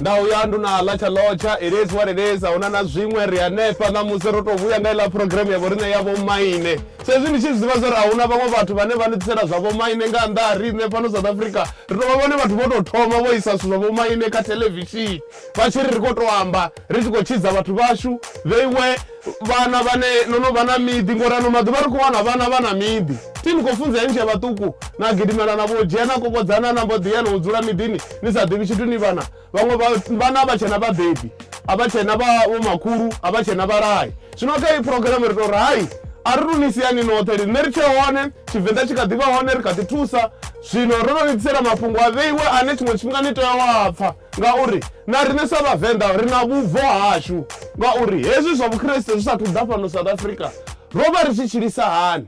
nda uya ndu na ḽa tsha lotsha it is what it is a huna na zwiṅwe ri hanefha ṋamusi ro tou vhuya nga iḽa programu ya vhoriṋe ya vhomaine sa izwi ndi tshi zwi ḓivha zwa uri a huna vhaṅwe vhathu vhane vha ni ḓisela zwa vhomaine nga nnḓa ha riṋe fhano south africa ri tou vha vhone vhathu vho tou thoma vho isa zwithu zwa vhomaine kha thelevishini vha tshi ri ri khou tou amba ri tshi khou tshidza vhathu vhashu they were vhana vhane no no vha na miḓi ngori ano maḓuvha ri khou wana vhana vha na miḓi ti ni khou funza enzhe vhaṱuku na gidimela na vho dzhia na kokodzana na mbo ḓiya na u dzula miḓini ni sa ḓivhi tshithu ni vhana vhaṅwe vhana vha tshena vhabebi a vha tshena vha vho makhulu a vha tshena vhalayi zwino kha iyi phurogirame ri tou ri hai a ri luni siani noṱhe ri nṋe ri tshe hone tshivenḓa tshi kha ḓi vha hone ri kha ḓi thusa zwino ro no ni ḓisela mafhungo a vheiwe ane tshiṅwe tshifhinga ni tea wa pfha ngauri na riṋe sa vhavenḓa ri na vhubvo hashu ngauri hezwi zwa vhukreste zwi sathu ḓa fhano south africa ro vha ri tshi tshilisa hani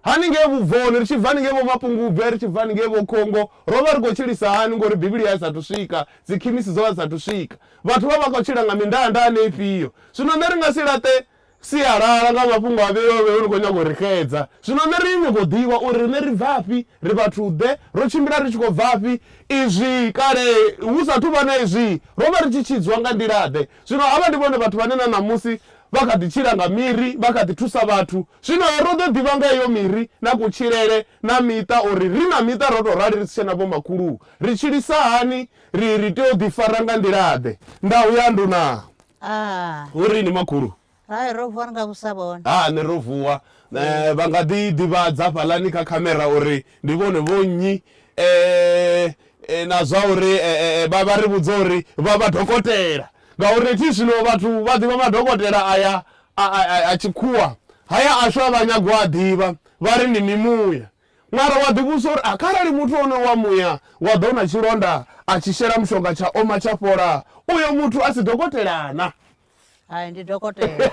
haningei vhubvoni ri tshi bva ningei vho mapungubwe ri tshi bva ningei vho khongo ro vha ri khou tshilisa hani ngori bivhili ya sathu swika dzikhimisi dzo vha sathu swika vhathu vha vha khou tshila nga mindanda ane ifhio zwino nṋe ri nga si laṱe Sialala nga mafhungo a vheiwaho hu khou nyanga u ri xedza. Zwino nṋe ri nyago u ḓivha uri riṋe ri bvafhi, ri vhathu-ḓe, ro tshimbila ri tshi khou bvafhi, izwi kale hu sa athu vha na izwi ro vha ri tshi tshidzwa nga nḓila-ḓe. Zwino havha ndi vhone vhathu vhane na ṋamusi vha kha ḓi tshila nga miri, vha kha ḓi thusa vhathu. Zwino ro ḓo ḓivha nga heyo miri na kutshilele na miṱa uri ri na miṱa ro tou rali ri si tshena vhomakhulu ri tshilisa hani, ri ri tea u ḓifara nga nḓila-ḓe. Ndau ya nduna. Ah. hu ri ni makhulu Hai ro vuwa ri nga vhusa vhone. Ha ni ro vuwa eh, vha nga ḓi ḓivhadza fhaḽani kha khamera uri ndi vhone vho nnyi eh, eh, na zwa uri eh, eh, eh, vha vha ri vhudza uri vha vha dokotela ngauri thi zwino vhathu vha ḓivha madokotela aya a, a, a, a tshikhuwa haya ashu a vha nyago a ḓivha vha ri ndi mimuya Mara wa ḓivhudzisa uri a kharali muthu onoyo wa muya wa ḓou na tshilonda a tshi shela mushonga tsha oma tsha fhola, uyo muthu a si dokotela-na? Hai, ndi dokotela.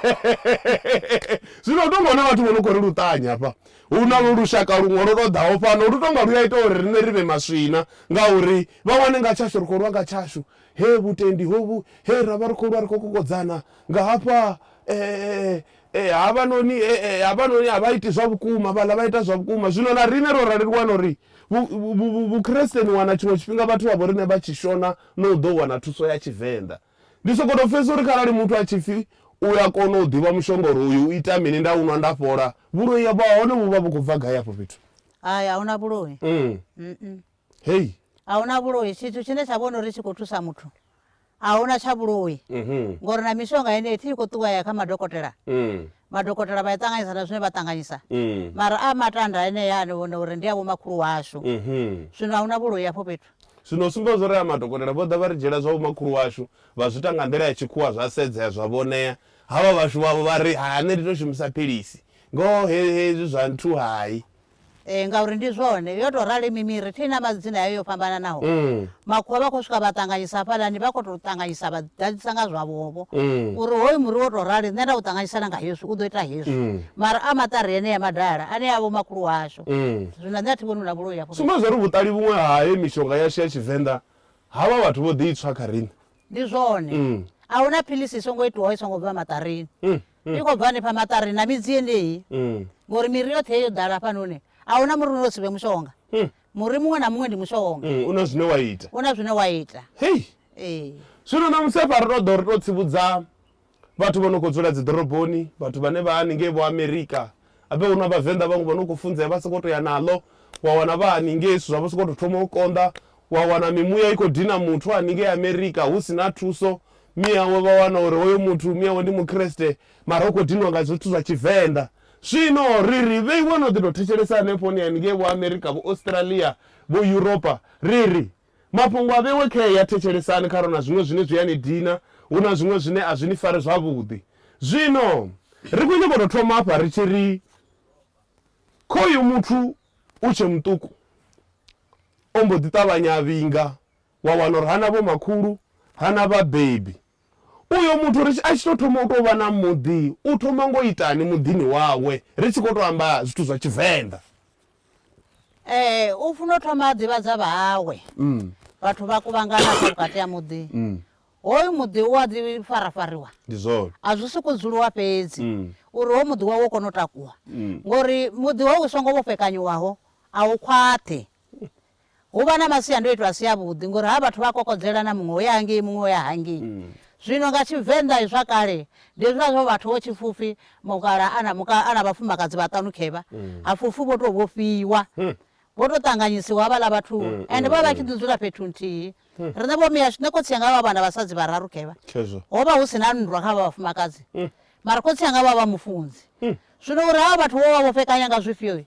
Zwino hu tou nga hu na vhathu vho no khou ri luṱanya hafha. Hu na lushaka luṅwe lwo tou ḓaho fhano lu tou nga lu a ita uri riṋe ri vhe maswina ngauri vha wane nga tshashu ri khou lwa nga tshashu. Hee vhutendi hovhu, hee ra vha ri khou lwa ri khou kokodzana nga hafha Ee, havhanoni, e, e, havhanoni a vha iti zwa vhukuma, vhaḽa vha ita zwa vhukuma. Zwino na riṋe ro rali ri wana uri Vhukriste ni wana tshiṅwe tshifhinga vhathu vha vho riṋe vha tshi shona na u ḓo wana thuso ya Tshivenḓa. Ndi sokou tou pfesesa uri kharali muthu a tshi pfi u a kona u ḓivha mushonga uri uyu u ita mini, nda u nwa nda fhola, vhuloi ha vha hone vhu vha vhu khou bva gai afho fhethu? Hai, a hu na vhuloi. Mm. Hei. A hu na vhuloi, tshithu tshine tsha vhona uri tshi khou thusa muthu a hu na tsha vhuloi ngori na mishonga yeneyi thi i khou ṱuwa ya kha madokotela. Madokotela vha i ṱanganyisa na zwine vha ṱanganyisa mara a matanda enea ane vhona uri ndi a vhomakhulu washu. Zwino a hu na vhuloi hafho fhethu. Zwino u sumbedza uri a madokotela vho ḓa vha ri dzhiela zwa vhomakhulu washu vha zwi ita nga nḓila ya tshikhuwa zwa sedzea zwa vhonea. Havha vhashu vhavho vha ri hai nṋe ndi tou shumisa philisi ngoho hezwi zwa nthu hai. Ee, ngauri ndi zwone. Yo tou rali mimiri, thi na madzina yayo yo fhambananaho. Makhuwa vha khou swika vha ṱanganyisa hafhaḽani, vha khou tou ṱanganyisa vha ḓadzisa nga zwavhovho. Uri hoyu muri wo tou rali, nṋe nda u ṱanganyisa na nga hezwi, u ḓo ita hezwi. Mara a maṱari enea madala, ane a vha vhomakhulu washu. Zwino nṋe a thi vhoni hu na vhuloi hafho fhethu. Sumba zwa uri vhuṱali vhuṅwe ha heyi mishonga yashu ya Tshivenḓa ha vha vhathu vho ḓi i tswa kha riṋe. Ndi zwone. A hu na philisi i songo itwaho i songo bva maṱarini. i khou bva hanefha maṱari na midzi yendeyi ngori miri yoṱhe yo ḓala hafhanoni a huna muri uno si vhe mushonga muri muṅwe na muṅwe ndi mushonga u na zwine wa ita u na zwine wa ita hei ee zwino na musi hafha ri to ḓo ri to tsivhudza vhathu vho no khou dzula dzi ḓoroboni vhathu vhane vha haningei vho amerika Habe huna vhavenḓa vhaṅwe vhano kho funzea vha soko to ya naḽo wa wana vha haningei zwithu zwavho soko to thoma u konḓa wa wana mimuya i kho dina muthu haningei America hu sina thuso miawe vha wana uri hoyo muthu miawe ndi mukreste mara u kho dinwa nga zwithu zwa tshivenḓa zwino ri ri vheiwe no ḓi to thetshelesa hanefho ni haningei vho America vho Australia vho Europa ri ri Mafhungo a vhewe khe ya thetshelesani kha ro na zwiṅwe zwine zwi a ni dina, hu na zwiṅwe zwine a zwi ni fari zwavhuḓi. Zwino ri khou nyanga u tou thoma afha ri tshi ri, Khoyu muthu u tshe muṱuku o mbo ḓi ṱavhanya a vhinga, wa wana uri ha na vhomakhulu, ha na vhabebi. Uyo muthu ri a tshi tou thoma u tou vha na muḓi u thoma ngo itani muḓini wawe ri tshi khou tou amba zwithu zwa Tshivenḓa? Ee, u funa u thoma a ḓivhadza vhahawe. Vhathu vha kuvhangana hafha vhukati ha muḓi. Hoyu muḓi u a ḓi farafariwa. Ndi zwone. A zwi sokou dzuliwa fhedzi uri hoyu muḓi wawe u kone u takuwa ngori muḓi hoyu u songo vhofhekanyiwaho a u khwaṱhi. hu vha na masiandoitwa a si avhuḓi ngori havha vhathu vha a kokodzela na muṅwe o ya hangei muṅwe o ya hangei. Zwino nga Tshivenḓa zwa kale ndi hezwiḽa zwa uri vhathu vho tshipfufhi mukalaha a na muka a na vhafumakadzi vhaṱanu khevha hapfufhi vho tou vhofhiwa vho tou ṱanganyisiwa havhaḽa vhathu ende vho vha vha tshi ḓi dzula fhethu nthihi. Riṋe vho miashu nṋe khotsi anga vha vha vha na vhasadzi vhararu khevha ho vha hu si na nndwa kha havha vhafumakadzi mara khotsi anga vha vha vha mufunzi. Zwino uri havha vhathu vho vha vho fhekanya nga zwifhioi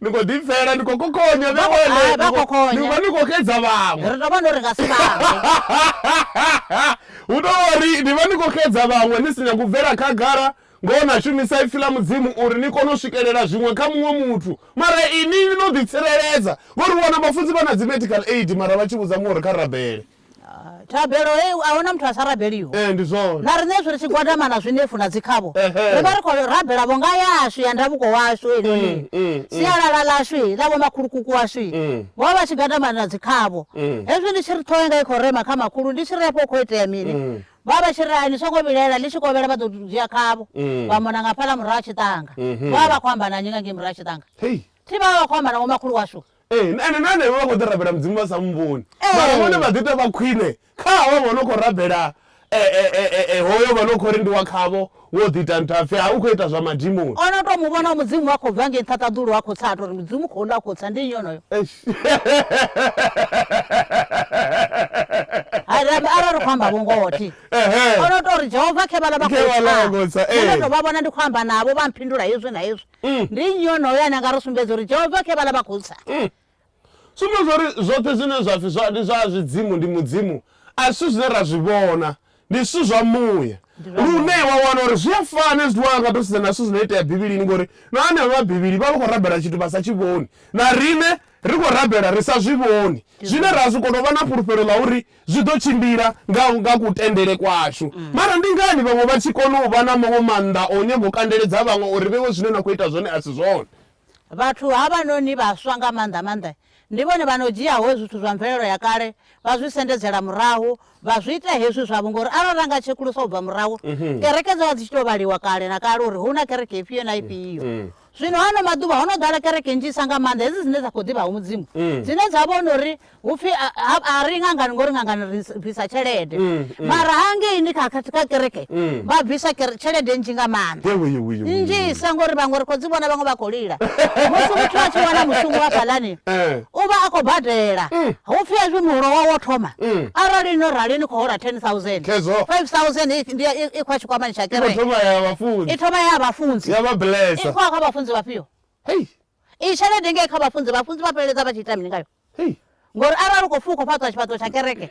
ni khou ḓi pfela ni khou kokhonya Vha khou- nahone hai, vha ni khou- kokhonya. ni vha ni khou xedza vhaṅwe ri tou vhona uri nga si vhaṅwe hu tou uri ni vha ni khou xedza vhaṅwe ni si nyanga u bvela khagala ngoho na shumisa ipfi ḽa mudzimu uri ni kone u swikelela zwiṅwe kha muṅwe muthu mara ini ni no ḓitsireledza ngori u wana vhafunzi vha na dzi medical aid mara vha tshi vhudza muṅwe uri kha rabele Thabelo hei a huna muthu a sa rabeliho. Ee, ndi zwone. Na riṋe hezwi ri tshi gwadama na zwinefu na dzikhavho, Ehe. ri vha ri khou rabela vhunga yashu ya ndavuko washu heinoni. Mm, mm, mm. Sialala ḽashu he, ḽa vhomakhulukuku washu he, Mm. vho vha vha tshi gwadama na dzikhavho. Mm. Hezwi ndi tshi ri ṱhoho yanga i khou rema kha makhulu, ndi tshi ri afho hu khou itea mini? Mm. Vha vha vha tshi ri hai, ni songo vhilaela, ḽi tshi kovhela vha ḓo dzhia khavho, Mm. vha mona nga hafhaḽa murahu ha tshiṱanga. Mhm. Vho vha vha khou amba na nnyi nga ngei murahu ha tshiṱanga? Hei. Thi vha vha vha khou amba na vhomakhulu washu. Ee, na ene na hanevho vha khou ḓi rabela Mudzimu vha sa mu vhoni. Mara vhone vha ḓi tou vha khwine kha havho vho no khou rabela e, e, e, e, e, hoyo vha no khou ri ndi wa khavho wo ḓi ita ntha pfi ha u khou ita zwa madimoni. O no tou mu vhona Mudzimu a khou bva ngei nṱha ṱaḓulu a khou tsa a tou ri Mudzimu u khou ḽa a khou tsa ndi nnyi onoyo. Eish. Hai rambe arali ri khou amba vhungoho thi. Ehe. O no tou ri Jehova khe vhaḽa vha Khe khou vhaḽa vha khou tsa, tsa. Nṋe ee. ndo tou vha vhona ndi khou amba navho vha mphindula hezwi na hezwi. mm. ndi nnyi onoyo ane anga ri sumbedza uri jehova khe vhala vha khou tsa mm. sumbedza uri zwoṱhe zwine zwa pfi ndi zwa zwidzimu ndi mudzimu a si zwine ra zwi vhona ndi zwithu zwa muya lune wa wana uri zwi a fana zwithu wanga to sedza na zwithu zwino itea bivhilini ngori na anevha vhabivhili vha vha khou rabela tshithu vha sa tshi vhoni na rine Ri khou rabela ri sa zwi vhoni zwine ra zwi kona u vha na fhulufhelo ḽa uri zwi ḓo tshimbila nga nga kutendele kwashu. Mara ndi ngani vhaṅwe vha tshi kona u vha na maṅwe maanḓa a u nyanga u kandeledza vhaṅwe uri vhe vho zwine na khou ita zwone a si zwone? Vhathu havhanoni vhaswa nga maanḓa-maanḓa ndi vhone vha no dzhiaho zwithu zwa mvelelo ya kale vha zwi sendedzela murahu, vha zwi ita hezwi zwavho. Ngori arali ra nga tshekulusa u bva murahu, kereke dzo vha dzi tshi tou vhaliwa kale na kale uri hu na kereke ifhio na ifhio. zwino hano maḓuvha ho no ḓala kereke nnzhisa nga maanḓa hedzi dzine dza khou ḓivha hu mudzimu mm. dzine dza vhona uri hupfi a ri ngangani ngori ngangani ri bvisa tshelede mm, mm. mara hangei ni kha kereke vha bvisa tshelede nnzhi nga maanḓa nnzhisa ngori vhaṅwe ri khou dzi vhona vhaṅwe vha khou lila musi muthu a tshi wana mushumo wa fhalani eh. u vha a khou badela mm. hu pfi hezwi muholo wa wo thoma mm. arali no rali ni khou hola 10000 5000 ndi i khwa tshikwamani tsha kereke thoma ya vhafunzi i thoma ya vhafunzi ya vhablesa i khwa kha vhafunzi vhafhio hey i tshelede ngei kha vhafunzi vhafunzi vha fheledza vha tshi ita mini ngayo hey ngori arali u khou pfhi u khou fhaṱwa tshifhaṱo tsha kereke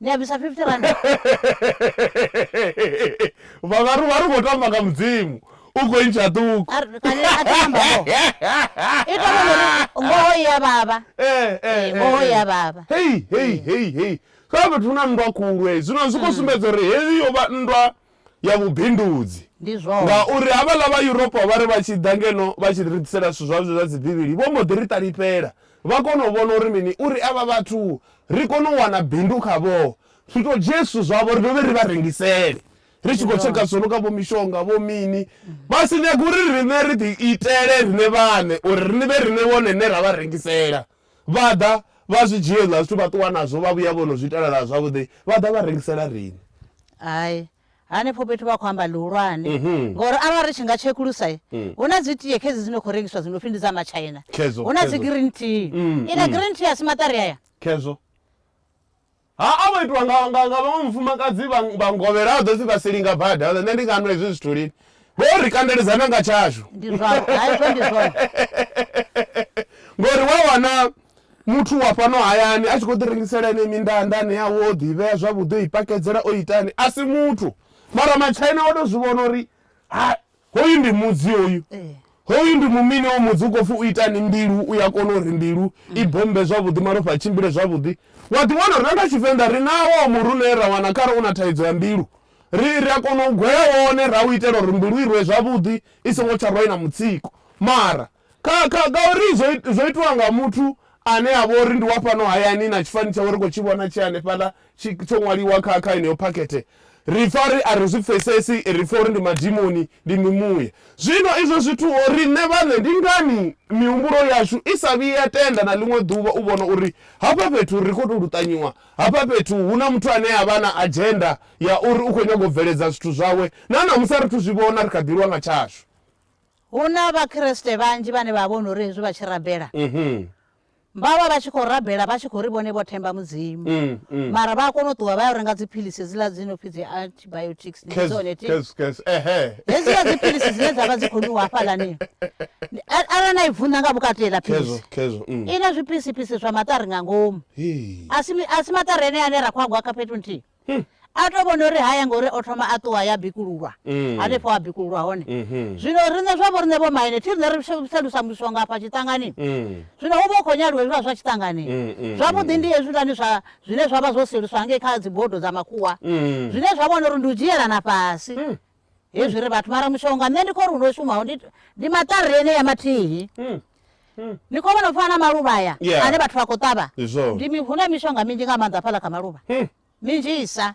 ni a bvisa 50 rand vhavaru vha ri khou tamba nga mudzimu u khou ntsha ṱuku ngoho ya vhavha eh, eh, eh, ngoho ya vhavha hei hei hei hei kha fhethu na nndwa khulu hei zwino zwi khou mm. sumbedza uri heyi yo vha nndwa ya vhubindudzi. Ndi zwone. Ngauri havhaḽa vha Yuropa vha ri vha tshi ḓa ngeno vha tshi ri ḓisela zwithu zwavho zwa dzi Bivhili, vho mbo ḓi ri ṱalifhela. Vha kona u vhona uri mini? Uri avha vhathu ri kone u wana bindu khavho. Ri to dzhie zwithu zwavho ri dovhe ri vha rengisele. Ri tshi khou tsheka zwo no nga vho mishonga, vho mini. Vha si nyage uri riṋe ri ḓi itele riṋe vhaṋe, uri ri vhe riṋe vhone rine ra vha rengisela. Vha ḓa vha zwi dzhia hezwiḽa zwithu vha ṱuwa nazwo vha vhuya vho no zwi itela zwavhuḓi vha ḓa vha rengisela riṋe. Hai, hanefho fhethu vha khou amba ḽihulwane ngauri arali ri tshi nga tshekulusa hu na dzi tie khedzi dzi no khou rengiswa dzi no pfhi ndi dza matshaina, hu na dzi green tea. Iḽa green tea a si maṱari aya? Khezwo. Ha a vho itwa nga, nga, nga vhaṅwe mufumakadzi vha, vha ngovhela ha ḓo pfi vha silinga bada nṋe ndi nga nwa hezwi zwithu lini vho ri kandeledzana nga tshashu ndi zwavho haizwo ndi zwone ngori wa wana muthu wa fhano hayani a tshi khou ḓi rengisela ene mindanda ane yawe o ḓi vhea zwavhuḓi o i pakedzela o itani a si muthu mara matshaina o to zwi vhona uri ha Hoyu ndi mudzi hoyu. Hoyu ndi mumini hoyu mudzi u khou pfi u itani mbilu u ya kona uri mbilu i bommbe zwavhuḓi malofha a tshimbile zwavhuḓi. Wa ḓi wana uri na nga Tshivenḓa ri nawo muri une ra wana kha re u na thaidzo ya mbilu ri ri a kona u gwea wone ra u itela uri mbilu i rwe zwavhuḓi i songo tsha rwa i na mutsiko mara Kha, kha, ngauri zwo, zwo itiwa nga muthu ane a vha uri ndi wa fhano hayani, na tshifani tshawe ri khou tshi vhona tshi hanefhaḽa, tshi, tsho ṅwaliwa kha, kha yeneyo phakhethe. Ri pfa ri a ri zwi pfesesi, ri pfa uri ndi madimoni, ndi mimuya. Zwino izwo zwithu ho, riṋe vhaṋe, ndi ngani mihumbulo yashu i sa vhuyi ya tenda na ḽiṅwe ḓuvha u vhona uri hafha fhethu ri khou tou luṱanyiwa, hafha fhethu hu na muthu ane a vha na adzhenda ya uri u khou nyaga u bveledza zwithu zwawe, na ṋamusi a ri thu zwi vhona, ri kha ḓi lwa nga tshashu. Hu na Vhakriste vhanzhi vhane vha vhona uri hezwi vha tshi rabela, vha vha vha tshi khou rabela vha tshi khou ri vhone vho themba Mudzimu. Mara vha a kona u ṱuwa vha ya u renga dziphilisi hedziḽa dzi no pfi dzi antibiotics, ndi dzone ti? Hedziḽa dziphilisi dzine dza vha dzi khou nwiwa hafhaḽani, arali na i vunḓa nga vhukati heiḽa philisi, i na zwipisipisi zwa maṱari nga ngomu. A si maṱari enea ane ra khou a gwa kha fhethu nthihi? hmm. a to vhona uri haya ngori o thoma a ṱuwa ya bikululwa mm. hanefho a bikululwa hone mm-hmm. zwino riṋe zwa vho riṋe vho maine thi riṋe ri selusa muswa nga afha tshiṱangani mm. zwino hu vha u khou nyaliwa hezwiḽa zwa tshiṱangani mm, zwavhuḓi ndi hezwilani zwa zwine zwa vha zwo seluswa ngei kha dzibodo dza makhuwa zwine zwa vhona uri ndi u dzhielana fhasi hezviri mm. vati mara mushonga ne ndiko runoshumawo ndi matarire ene yamatihi mm. mm. ndiko vanofana maluva aya yeah. ane vati vakotava ndimihune mishonga minji nga manza pala kamaluva mm. minji isa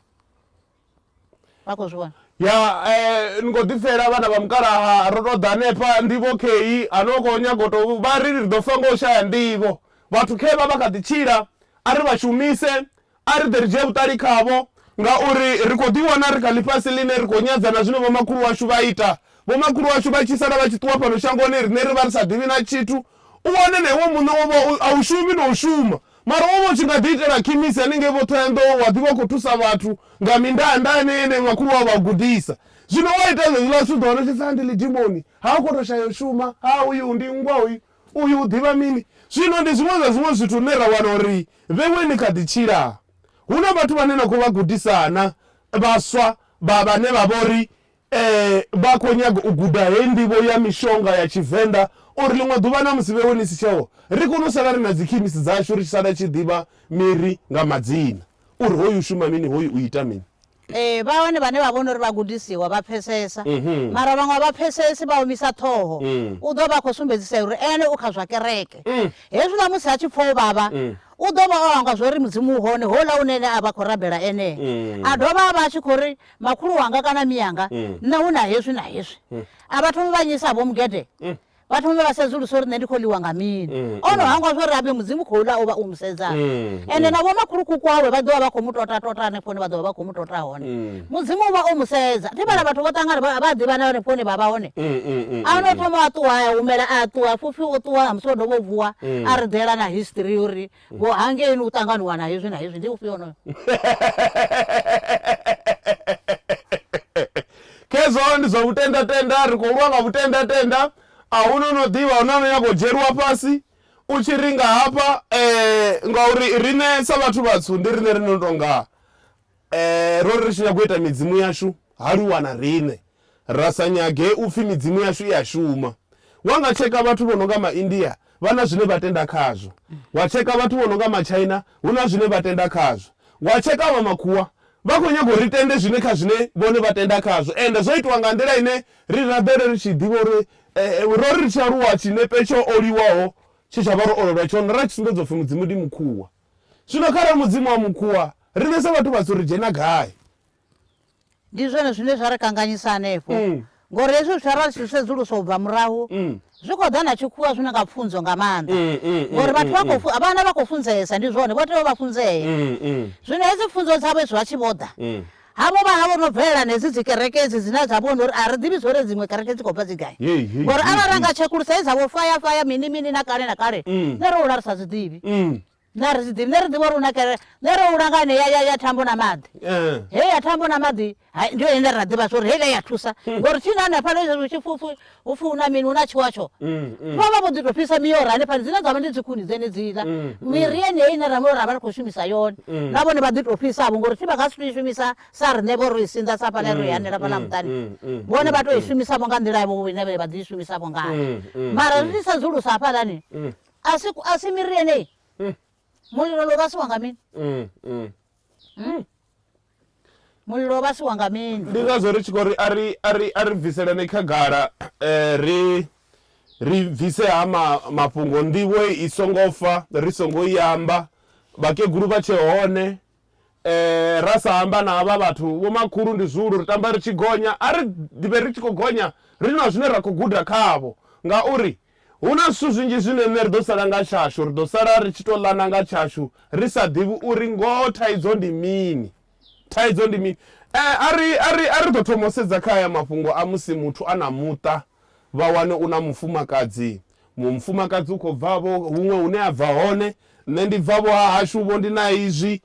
vakozviona ya eh, ni kho ḓifela vhana vha mukalaha ro tou ḓa hanefha ndivho kheyi hanoko nyagoto vha ri ri ḓo fa ngo shaya ndivho vhathu khe vha vha kha ḓi tshila a ri vha shumise A ri ḓe ri dzhie vhuṱali khavho, ngauri ri khou ḓiwana ri kha ḽifhasi ḽine ri khou nyadza na zwine vhomakhulu washu vha ita. Vhomakhulu washu vha tshi sala vha tshi ṱuwa fhano shangoni, riṋe ri vha ri sa ḓivhi na tshithu. U wane na iwe muṋe wo vha a u shumi na u shuma, mara wo vha u tshi nga ḓiitela khimisi hanengei vho Ṱhohoyanḓou, wa ḓi vha u khou thusa vhathu nga mindanda yeneyi ine makhulu wau vha u gudisa. Zwino wa ita zwezwiḽa zwithu u ḓo wana u tshi pfi, Ha ndi ḽidimoni, ha u khou tou shaya u shuma, ha uyu ndi nngwa hoyu. Uyu u ḓivha mini? Zwino ndi zwiṅwe zwa zwiṅwe zwithu zwine ra wana uri vhewe ni kha ḓi tshila. Hu na vhathu vhane na khou vha gudisa na, vhaswa vha, vhane vha vho ri, Ee, vha khou nyaga u guda heyi nḓivho ya mishonga ya Tshivenḓa, uri ḽiṅwe ḓuvha na musi vhewe ni si tsheho, ri kone u sala ri na dzikhemisi dzashu, ri tshi sala tshi ḓivha miri nga madzina, uri hoyu u shuma mini, hoyu u ita mini. Ee, vha hone vhane vha vhona uri vhagudisiwa vha pfesesa, mara vhaṅwe a vha pfesesi, vha omisa ṱhoho. U ḓo vha a khou sumbedzisa uri ene u kha zwa kereke. Hezwiḽa musi a tshi pfa u vhavha, u ḓo vha o hangwa zwa uri Mudzimu u hone, houḽa une ene a vha a khou rabela enee. A dovha a vha a tshi khou ri, Makhulu wanga kana mianga, nṋe hu na hezwi na hezwi. A vha thomi vha nyisa-vho mugede, vhathu vha vhe vha sedzulusa uri nṋe ndi khou ḽiwa nga mini mm, o no mm. hangwa zwo ri abe mudzimu khou ḽa o vha o mu sedza mm, ende mm. na vhomakhulukuku awe vha ḓovha vha khou mu tota tota hanefho hone vha ḓovha vha khou mu tota hone mm. mudzimu u vha o mu sedza ndi vhala vhathu vho ṱangana vha a ḓivhana hanefho hone vha vha hone mm, a no thoma a ṱuwa a humela a ṱuwa fufi o ṱuwa a musi o dovha o vuwa a ri ḓela na history uri Vho hangei ni u ṱanganuwa na hezwi na hezwi ndi ufhio onoyo? Khezwo ndi zwa vhutendatenda, ri khou lwa nga vhutendatenda. A hu na o no ḓivha, a hu na a no nyaga u dzhieliwa fhasi. U tshi ri nga hafha, ee, ngauri riṋe sa vhathu vhatswu ndi riṋe ri no tou nga Ro ri ri tshi nyaga u ita midzimu yashu ha lu wana riṋe, ra sa nyage u pfi midzimu yashu i a shuma. Wa nga tsheka vhathu vho no nga Maindia, vha na zwine vha tenda khazwo. Wa tsheka vhathu vho no nga Matshaina, hu na zwine vha tenda khazwo. Wa tsheka vha Makhuwa, vha khou nyaga uri ri tende zwine kha zwine vhone vha tenda khazwo. Ende zwo itwa nga nḓila ine ri rabele ri tshi ḓivha uri ro ri ri tshi aluwa tshinepe tsho oliwaho tshe tsha vha ro olelwa tshone ra tshi sumbedzwa u pfi Mudzimu ndi Mukhuwa. Zwino kharali mudzimu wa mukhuwa, riṋe sa vhathu vhatswu ri dzhena gai? Ndi zwone zwine zwa ri kanganyisa hanefho, ngauri hezwi zwithu arali ri tshi zwi sedzulusa u bva murahu, zwi khou ḓa na tshikhuwa zwi no nga pfunzo nga maanḓa, ngauri vhathu vha khou, vhana vha khou funzesa, ndi zwone, vho tea u vha funzea. Zwino hedzi pfunzo dzavho hezwi vha tshi vho ḓa, Havho vha havho no bvelela na hedzi dzikereke hedzi dzine dza vhona uri a ri ḓivhi zwo ri dziṅwe kereke dzi khou bva dzi gai. Hei, hei, Ngori hei, arali ra hei. nga tshekulusa he dza vho faya faya mini mini na kale na kale Mm. nṋe ro hula ri sa zwi ḓivhi. Mm. Nṋe a ri zwi ḓivhi nṋe ri ḓivha uri hu na kereke nṋe ro hula nga ine ya- ya ya thambo na maḓi. Eh. Hei ya thambo na maḓi hai, ndi yone ine ra ḓivha zwo uri heiḽa ya thusa ngori tshi na hanefhaḽa hezwi tshipfupfu hupfi hu na mini hu na tshiwatsho mm, mm. vha vha vho ḓi tou fhisa miora hanefhani dzine dza vha ndi dzikhuni dzenedziḽa mm, miri yeneyi ine ra ra vha ri khou shumisa yone na vhone vha ḓi tou fhisavho ngori thi vha nga si tou i shumisa sa riṋe vho ro i sinḓa sa fhaḽa ro i hanela fhaḽa muṱani vhone vha tou i shumisavho nga nḓila yavho ine vha ḓi i shumisavho ngayo mara ri tshi sedzulusa hafhaḽani a si miri yeneyi mulilo lo vhasiwa nga mini hmm? Mulilo u vhasiwa nga mini? Ndi ngazwo ri tshi khou ri, A ri, a ri, a ri bviseleni khagala, ri, ri bvise ha ma, mafhungo, nḓivho i songo fa ri songo i amba, vhakegulu vha tshe hone, ra sa amba na havha vhathu, vhomakhulu ndi zwihulu, ri tamba ri tshi gonya. A ri ḓivhe ri tshi khou gonya ri na zwine ra khou guda khavho, ngauri Hu na zwithu zwinzhi zwine riṋe ri ḓo sala nga tshashu. Ri ḓo sala ri tshi tou ḽana nga tshashu ri sa ḓivhi uri ngoho thaidzo ndi mini. Thaidzo ndi mini? A ri, a ri, a ri ḓo thoma u sedza kha haya mafhungo a musi muthu a na muṱa, vha wane u na mufumakadzi. Muṅwe mufumakadzi u khou bva-vho huṅwe hune a bva hone, nṋe ndi bva-vho ha hashu-vho, ndi na izwi.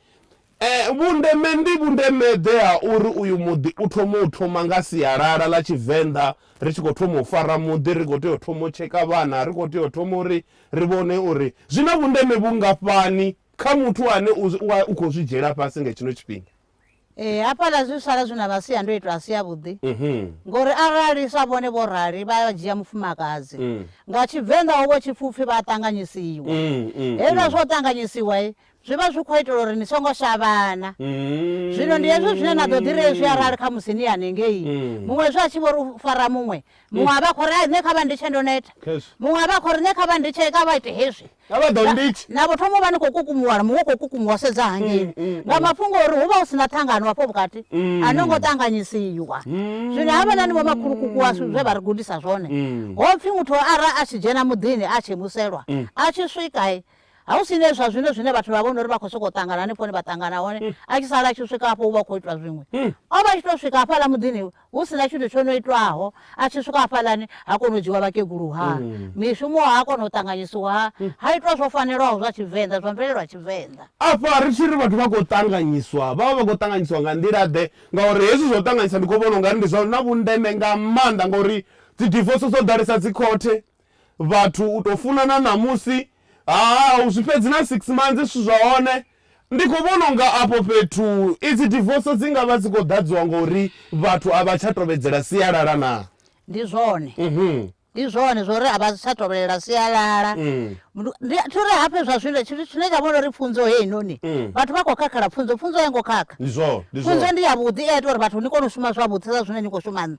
E Vhundeme ndi vhundeme-ḓe ha uri uyu muḓi u thome u thoma nga sialala ḽa Tshivenḓa, ri tshi khou thoma u fara muḓi, ri khou tea u thoma u tsheka vhana, ri khou tea u thoma uri ri vhone uri zwi na vhundeme vhungafhani kha muthu ane u u a u khou zwi dzhiela fhasi nga hetshino tshifhinga. Ee, hafhaḽa zwi sala zwi na masiandoitwa a si avhuḓi ngori arali sa vhone vho rali vha dzhia mufumakadzi, nga Tshivenḓa hu vha hu tshi pfi u pfi vha a ṱanganyisiwa. Hezwiḽa zwa u ṱanganyisiwa, Zwi vha zwi khou itela uri ni songo shavhana. Zwino ndi hezwo zwine na ḓo ḓi ri hezwi arali khamusi ni hanengei muṅwe zwe a tshi vho ri u fara muṅwe, muṅwe a vha a khou ri, Ai, nṋe kha vha nditshe ndo neta. Khezwi. Muṅwe a vha a khou ri, Nṋe kha vha nditshe, kha vha ite hezwi. Kha vha ḓo nditshe. Na vho thoma u vha ni khou kukumuwa, muṅwe u khou kukumuwa u sedza hangei nga mafhungo a uri hu vha hu si na ṱhangano afho vhukati, a no ngo ṱanganyisiwa. Zwino havhaḽani vhomakhulukuku washu zwe vha ri gudisa zwone, ho pfi muthu ara a tshi dzhena muḓini a tshi muselwa, a tshi swika, Ha hu si ne zwa zwino zwine vhathu vha vhona uri vha khou sokou ṱangana hanefho hune vha ṱangana hone, hmm. a tshi sala a tshi swika hafho u vha khou itwa zwiṅwe. Hmm. O vha a tshi tou swika hafhaḽa muḓini hu si na tshithu tsho no itwaho, a tshi swika hafhaḽani ha kona u dzhiwa vhakegulu ha hmm. mishumo ha kona u ṱanganyisiwa ha ha itwa zwo fanelaho zwa Tshivenḓa, zwa mvelelo ya Tshivenḓa. Afha ri tshi ri vhathu vha khou ṱanganyiswa, vha vha vha khou ṱanganyiswa nga nḓila-ḓe ngauri hezwi zwa u ṱanganyisa ndi khou vhona u nga ri ndi zwa na vhundeme nga maanḓa ngauri dzi divoso dzo ḓalesa dzi khothe vhathu u to funana ṋamusi ha u zwi fhedzi na six months zwithu zwa hone ndi kho vhona unga afho fhethu idzi divoso dzi ngavha dzi khou ḓadziwa ngori vhathu a vha tsha tovhedzela sialala na ndi zwone mhm ndi zwone zwori a vha tsha tovhelela sialala mm. ndi thuri hafhe zwa zwino tshithu tshine tsha vhona uri pfunzo heyi noni mm. vhathu vha khou khakhala pfunzo pfunzo ya ngo khakha pfunzo ndi ya vhuḓi i a ita uri vhathu ni kone u shuma zwavhuḓi sa zwine ni khou shuma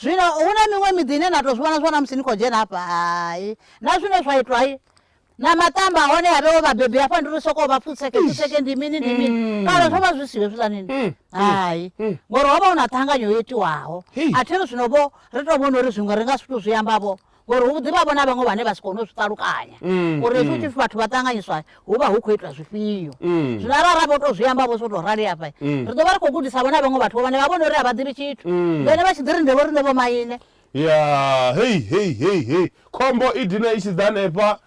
Zwino hu na miṅwe miḓi ine na tou zwi vhona zwi vhona musi ni khou dzhena hafha hai na zwine zwa itwa hai na maṱamba hone a vhewo vhabebi hafha ndi ri sokou vha pfutseke pfutseke ndi mini ndi mini mm. kale zwo vha zwi siho zwi zanini mm, mm, hai ngori ho vha hu na ṱhanganyo yo itiwaho a thi ri zwino vho ri tou vhona uri zwiṅwe ri nga si tou zwi ambavho ngori hu ḓi vha vhona vhaṅwe vhane vha si kone u zwi ṱalukanya mm, uri hezwi mm. tshipfi vhathu vha ṱanganyiswa hu vha hu khou itwa zwifhio mm. zwino arali ra vho to zwi amba vho so to rali afha ri ḓo vha ri khou gudisa vhona vhaṅwe vhathu vhane vha vhone uri a vha ḓivhi tshithu vhene vha tshi ḓi ri nde vho riṋe vho maine ya hei hei hei hei khombo i dina i tshi ḓa hanefha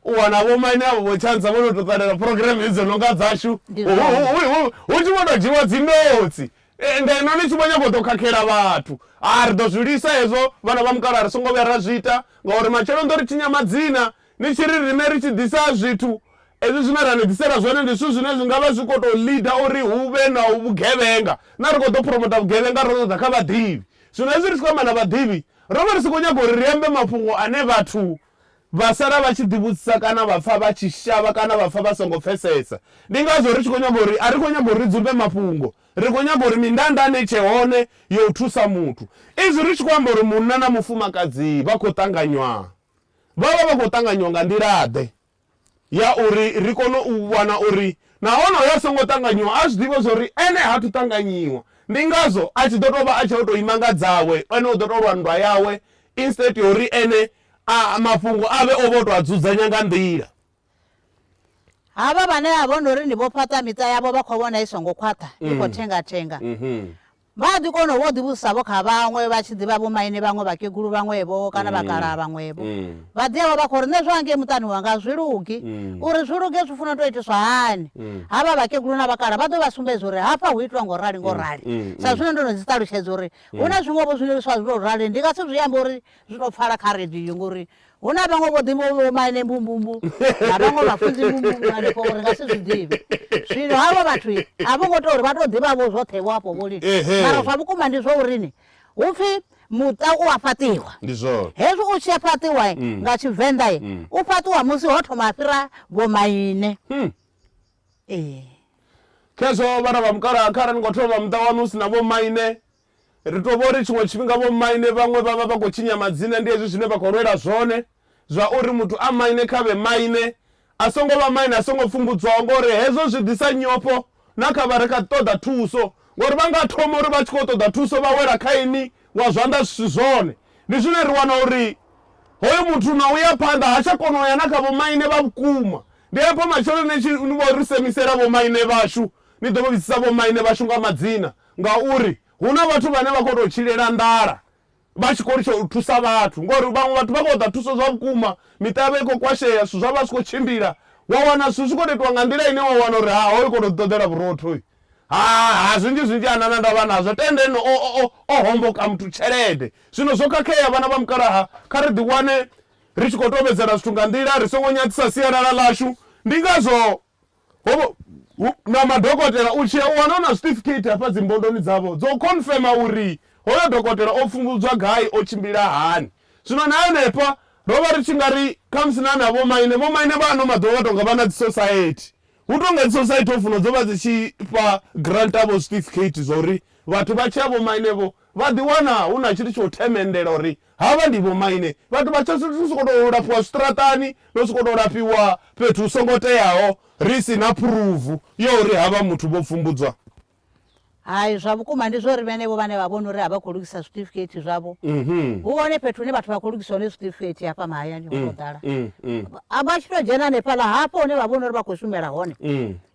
u wana vho maine avho vho tshansa vho no to ṱalela program idzo no nga dzashu hu tshi vho to dzhiwa dzinotsi Ngeno ni tshi vho nyaga u ḓo khakhela vhathu, haa, ri ḓo zwi lwisa hezwo, vhana vha mukalaha ri songo vhuya ra zwi ita, ngauri matshelo ni ḓo ri tshinya madzina ni tshi ri riṋe ri tshi ḓisa zwithu, hezwi zwine ra ni ḓisela zwone ndi zwithu zwine zwi nga vha zwi khou tou ḽida uri hu vhe na vhugevhenga, na ri khou ḓo phuromota vhugevhenga ro ṱoḓa kha vhaḓivhi. Zwino hezwi ri tshi khou amba na vhaḓivhi, ro vha ri si khou nyaga uri ri ambe mafhungo ane vhathu Vha sala vha tshi ḓivhudzisa kana vha pfa vha tshi shavha kana vha pfa vha songo pfesesa. Ndi ngazwo ri tshi khou nyanga uri a ri khou nyanga uri ri dzumbe mafhungo, ri khou nyanga uri mindandanda i tshe hone ya u thusa muthu. Izwi ri tshi khou amba uri munna na mufumakadzi vha khou ṱanganywa, vha vha vha khou ṱanganywa nga nḓila-ḓe? ya uri ri kone u vhona uri na honoyo a songo ṱanganyiwa a zwi ḓivhe zwa uri ene ha thu ṱanganyiwa. Ndi ngazwo a tshi ḓo tou vha a tshi tou ima nga dzawe, ene u ḓo tou lwa nndwa yawe instead ya uri ene a mafhungo a vhe o vha o tou a dzudzanya nga nḓila. Havha vhane vha vhona uri ndi vho fhaṱa miṱa yavho vha khou vhona i songo khwaṱha, i khou mm. thenga-thenga. Mm-hmm. Vha a ḓi kona u vha u ḓivhudzisa-vho kha vhaṅwe, vha tshi ḓi vha vhomaine vhaṅwe, vhakegulu vhaṅwe-vho kana vhakalaha vhaṅwe-vho. Vha ḓi ya vha vha khou ri, Nṋe zwa ngei muṱani wanga a zwi lugi. Uri zwi luge zwi funa u tou itiswa hani? Havha vhakegulu na vhakalaha vha ḓo vha sumbedza uri hafha hu itiwa nga u rali nga u rali. Sa zwine ndo no zwi ṱalutshedza uri hu na zwiṅwe-vho zwiḽiliswa zwi tou rali, ndi nga si zwi ambe uri zwi tou pfala kha radio ngori Hu na vhaṅwe vho ḓivhaho vho maine mbumbumbu na vhaṅwe vhafunzi mbumbumbu hanefho uri nga si zwi ḓivhe. Zwino havho vhathu a vho ngo tea uri vha tou ḓivha vho zwoṱhe vho afho vho lini. Mara zwa vhukuma ndi zwa uri ni, hu pfi muṱa u a fhaṱiwa. Ndi zwone. Hezwi u tshi a fhaṱiwa nga Tshivenḓa u fhaṱiwa musi ho thoma ha fhira vho maine. Ee. Khezwo vhana vha mukalaha kharali ni khou thoma muṱa wanu hu si na vho maine Ri tou vha uri tshiṅwe tshifhinga vhomaine vhaṅwe vha vha vha khou tshinya madzina, ndi hezwi zwine vha khou lwela zwone zwa uri muthu a maine kha vhe maine, a songo vha maine, a songo pfumbudzwaho, ngori hezwo zwi ḓisa nyofho na kha vha re kha ṱoḓa thuso, ngori vha nga thoma uri vha tshi khou ṱoḓa thuso vha wela kha inwi wa zwanḓa zwi si zwone. Ndi zwine ri wana uri hoyo muthu na u ya phanḓa ha tsha kona u ya na kha vhomaine vha vhukuma. Ndi afho matshelo ni tshi vho ri semisela vhomaine vhashu, ni ḓo vho vhidzisa vhomaine vhashu nga madzina, Ngauri hu na vhathu vhane vha khou tou tshilela nḓala vha tshi khou litsha u thusa vhathu ngori vhaṅwe vhathu vha khou ṱoḓa thuso zwa vhukuma, miṱa yavho i khou kwashea, zwithu zwavho a zwi khou tshimbila. Wa wana zwithu zwi khou tou itiwa nga nḓila ine wa wana uri ha hoyu u khou tou ḓiṱoḓela vhurotho hoyu. Ha, ha, zwinzhi zwinzhi ha na na ndavha nazwo. Tenda ene o, o, o, o homboka muthu tshelede. Zwino zwo khakhea vhana vha mukalaha, kha ri ḓiwane ri tshi khou tovhedzela zwithu nga nḓila, ri songo nyadzisa sialala ḽashu. Ndi ngazwo Ho na madokotela u tshia u wana na certificate hafha dzimbondoni dzavho dzo confirma uri hoyo dokotela o pfumbudzwa gai o tshimbila hani zwino na henefha ro vha ri tshi nga ri khamusi na na vho maine vho maine vha ano maḓuvha vha tonga vha na dzi society hu tonga dzi society ho funa dzo vha dzi tshi fha grant avho certificate zwa uri vhathu vha tshi ya vho maine vho vha ḓi wana hu na tshithu tsho themendela uri Havha ndi vhomaine vhathu vha tsho ri sokou tou lafhiwa zwiṱaraṱani no sokou tou lafhiwa fhethu hu songo teaho ri si na phuruvu ya uri havha muthu vho pfumbudzwa. Hai, zwa vhukuma ndi zwa uri vhenevho vhane vha vhona uri a vha khou lugisa zwiṱifikeithi zwavho, hu hone fhethu hune vhathu vha khou lugiswa hone zwiṱifikeithi hafha mahayani ho tou ḓala. A vha tshi tou dzhena hanefhaḽa hafho hune vha vhona uri vha khou shumela hone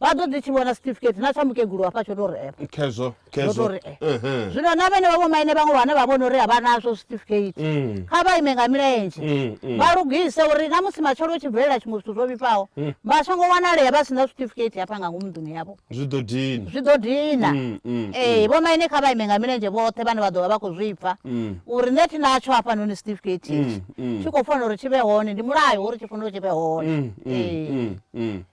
vha ḓo ḓi tshi vhona siṱifikeithi na tsha mukegulu hafha tsho tou rema. Khezwo. Khezwo. Ndo to ri, eh. Ehe. zwino na vhenevha vhomaine vhaṅwe vhane vha vhona uri a vha nazwo certificate Mm. kha vha ime nga milenzhe Mm, mm. vha lugise uri na musi matshelo hu tshi bvelela tshiṅwe zwithu zwo vhifhaho Mm. vha songo wanalea vha si na certificate hafha nga ngomu nḓuni yavho zwi ḓo dina zwi ḓo dina Mm, mm, ee vhomaine kha vha ime nga milenzhe vhoṱhe vhane vha ḓo vha vha khou zwi pfa Mm. uri nṋe thi natsho hafhanoni certificate Mm, itshi mm. tshi khou fanela uri tshi vhe hone ndi mulayo uri tshi fanela uri tshi vhe hone Mm, mm, Ee. mm, mm.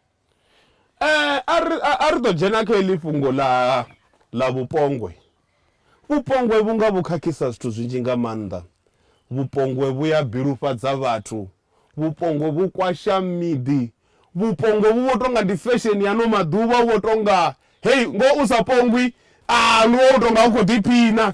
a ri a ri ḓo dzhena kha heḽi fhungo ḽa ḽa vhupongwe. Vhupongwe vhu nga vhu khakhisa zwithu zwinzhi nga maanḓa, vhupongwe vhu ya bilufhadza vhathu, vhupongwe vhu kwasha miḓi, vhupongwe vhu vho tonga ndi fesheni ya no maḓuvha, vhu vho tonga hei ngoho u sa pongwi a ndi wo tonga u khou ḓiphina.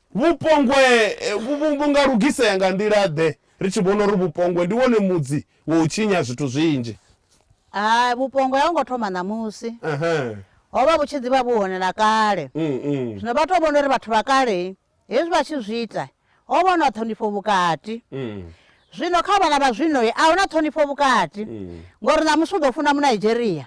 Vhupongwe vhu nga lugisea nga nḓila-ḓe? Ri tshi vhona uri vhupongwe ndi wone mudzi wa u tshinya zwithu zwinzhi. Hai, vhupongwe a ho ngo thoma ṋamusi. Ho vha vhu tshi ḓi vha vhu hone na kale. Zwino vha tou vhona uri vhathu vha kale hezwi vha tshi zwi ita, ho vha hu na ṱhonifho vhukati. Zwino kha vhana vha zwino a hu na ṱhonifho vhukati, ngauri ṋamusi u ḓo funa Munaidzheria,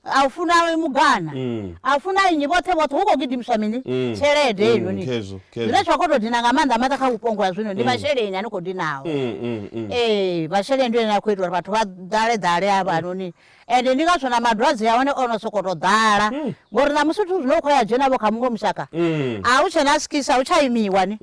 a u funa awe mugana mm. a funa nnyi vhoṱhe vhoṱhe hu khou gidimiswa mini mm. tshelede mm, heinoni zwine zwa khou tou dina nga maanḓa maanḓa kha vhupongo ha zwino ndi masheleni ani khou dinaho ee masheleni ndi ene a khou ita uri vhathu vha ḓale ḓale a vhanoni ende ndi ngazwo na madwadze a hone o no sokou tou ḓala ngori na musi zwithu zwine u khou ya dzhenavho kha muṅwe mushaka a hu tshena skisa a hu tsha imiwa ni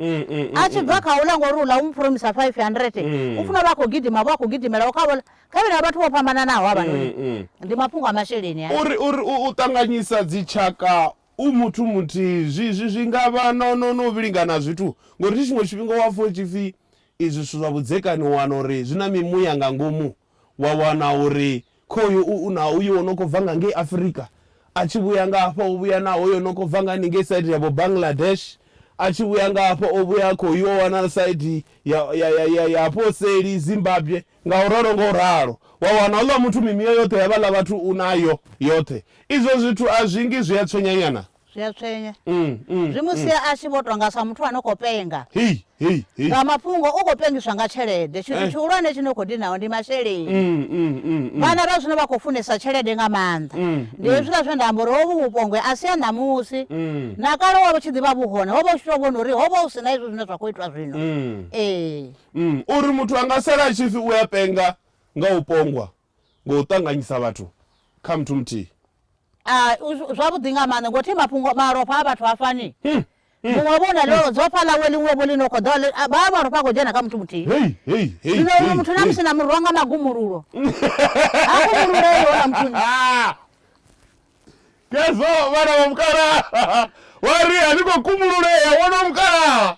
a tshi bva kha u la ngori u ḽa u mu promisa five hundred u funa vha khou gidima vho a khou gidimela u kha vhola Kha vhane vha vhathu vho fhambananaho havhanoni, ndi mafhungo a masheleni aya. Uri, uri u, u ṱanganyisa dzitshaka u muthu muthihi zwi, zwi, zwi nga vha no, no, no vhilingana ha zwithu, ngauri thi tshiṅwe tshifhinga wa pfa hu tshi pfi izwi zwithu zwa vhudzekani u wana uri zwi na mimuya nga ngomu, wa wana uri khoyu u, u na uyo o no khou bva nga ngei Afurika, a tshi vhuya nga hafha o vhuya na hoyo o no khou bva nga haningei saidi ya vho Bangladesh, a tshi vhuya nga hafha o vhuya khoyu o wana saidi ya, ya, ya, ya, ya hafho seli Zimbabwe. Nga u ralo, nga u ralo, wa wana houḽa muthu mimiyo yoṱhe ya vhaḽa vhathu u nayo yoṱhe. Izwo zwithu a zwi ngi zwi a tswenyanyana? Zwi a tswenya. Zwi mu sia a tshi vho tou nga sa muthu a no khou penga. Hei, hei, hei! Nga mafhungo, u khou pengiswa nga tshelede. Tshithu tshihulwane tshi no khou dinaho ndi masheleni. Vhana vha zwino vha khou funesa tshelede nga maanḓa. Ndi hezwiḽa zwe nda amba uri hovhu vhupongwe a si ha ṋamusi. Na kale ho vha hu tshi ḓi vha vhu hone, ho vha hu tshi tou vhona uri ho vha hu si na hezwi zwine zwa khou itwa zwino. Ee. Mm, uri muthu a nga sala a tshi pfi u a penga nga u pongwa ngo u ṱanganyisa vhathu kha muthu muthihi Ah, u- zwavhuḓi nga maanḓa ngo thi mafhungo malofha a vhathu ha fani Hmm, muṅwe vho na ḽo dzofha ḽawe ḽiṅwe vho ḽi no kho ḓo ḽi- a- vha malofha a khou dzhena kha muthu muthihi hei hei hei zwino hei, uno muthu na hei. musi na murwa nga magumululo ha kumululei hona muthu Ah! Khezwo vhana vha mukalaha vha ri a ni khou kumbululea wono mukalaha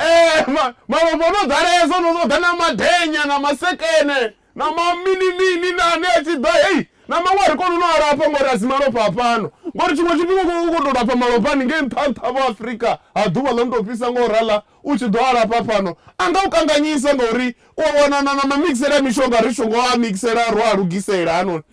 eh, ma, malofha no ḓalesa no ṱoḓa na madenya na masekene na mamini mini na ane a tshi ḓa hei na maṅwe a ri koni no a lafha ngori a si malofha a fhano ngori tshiṅwe tshifhinga u khou tou lafha malofha ni ngei nṱha nṱha vho afurika ha ḓuvha ḽo no tou fhisa nga u rala u tshi ḓo a lafha fhano a nga u kanganyisa ngauri u a wana na na mamixele a mishonga ri songo a mixela ro a lugisela hanoni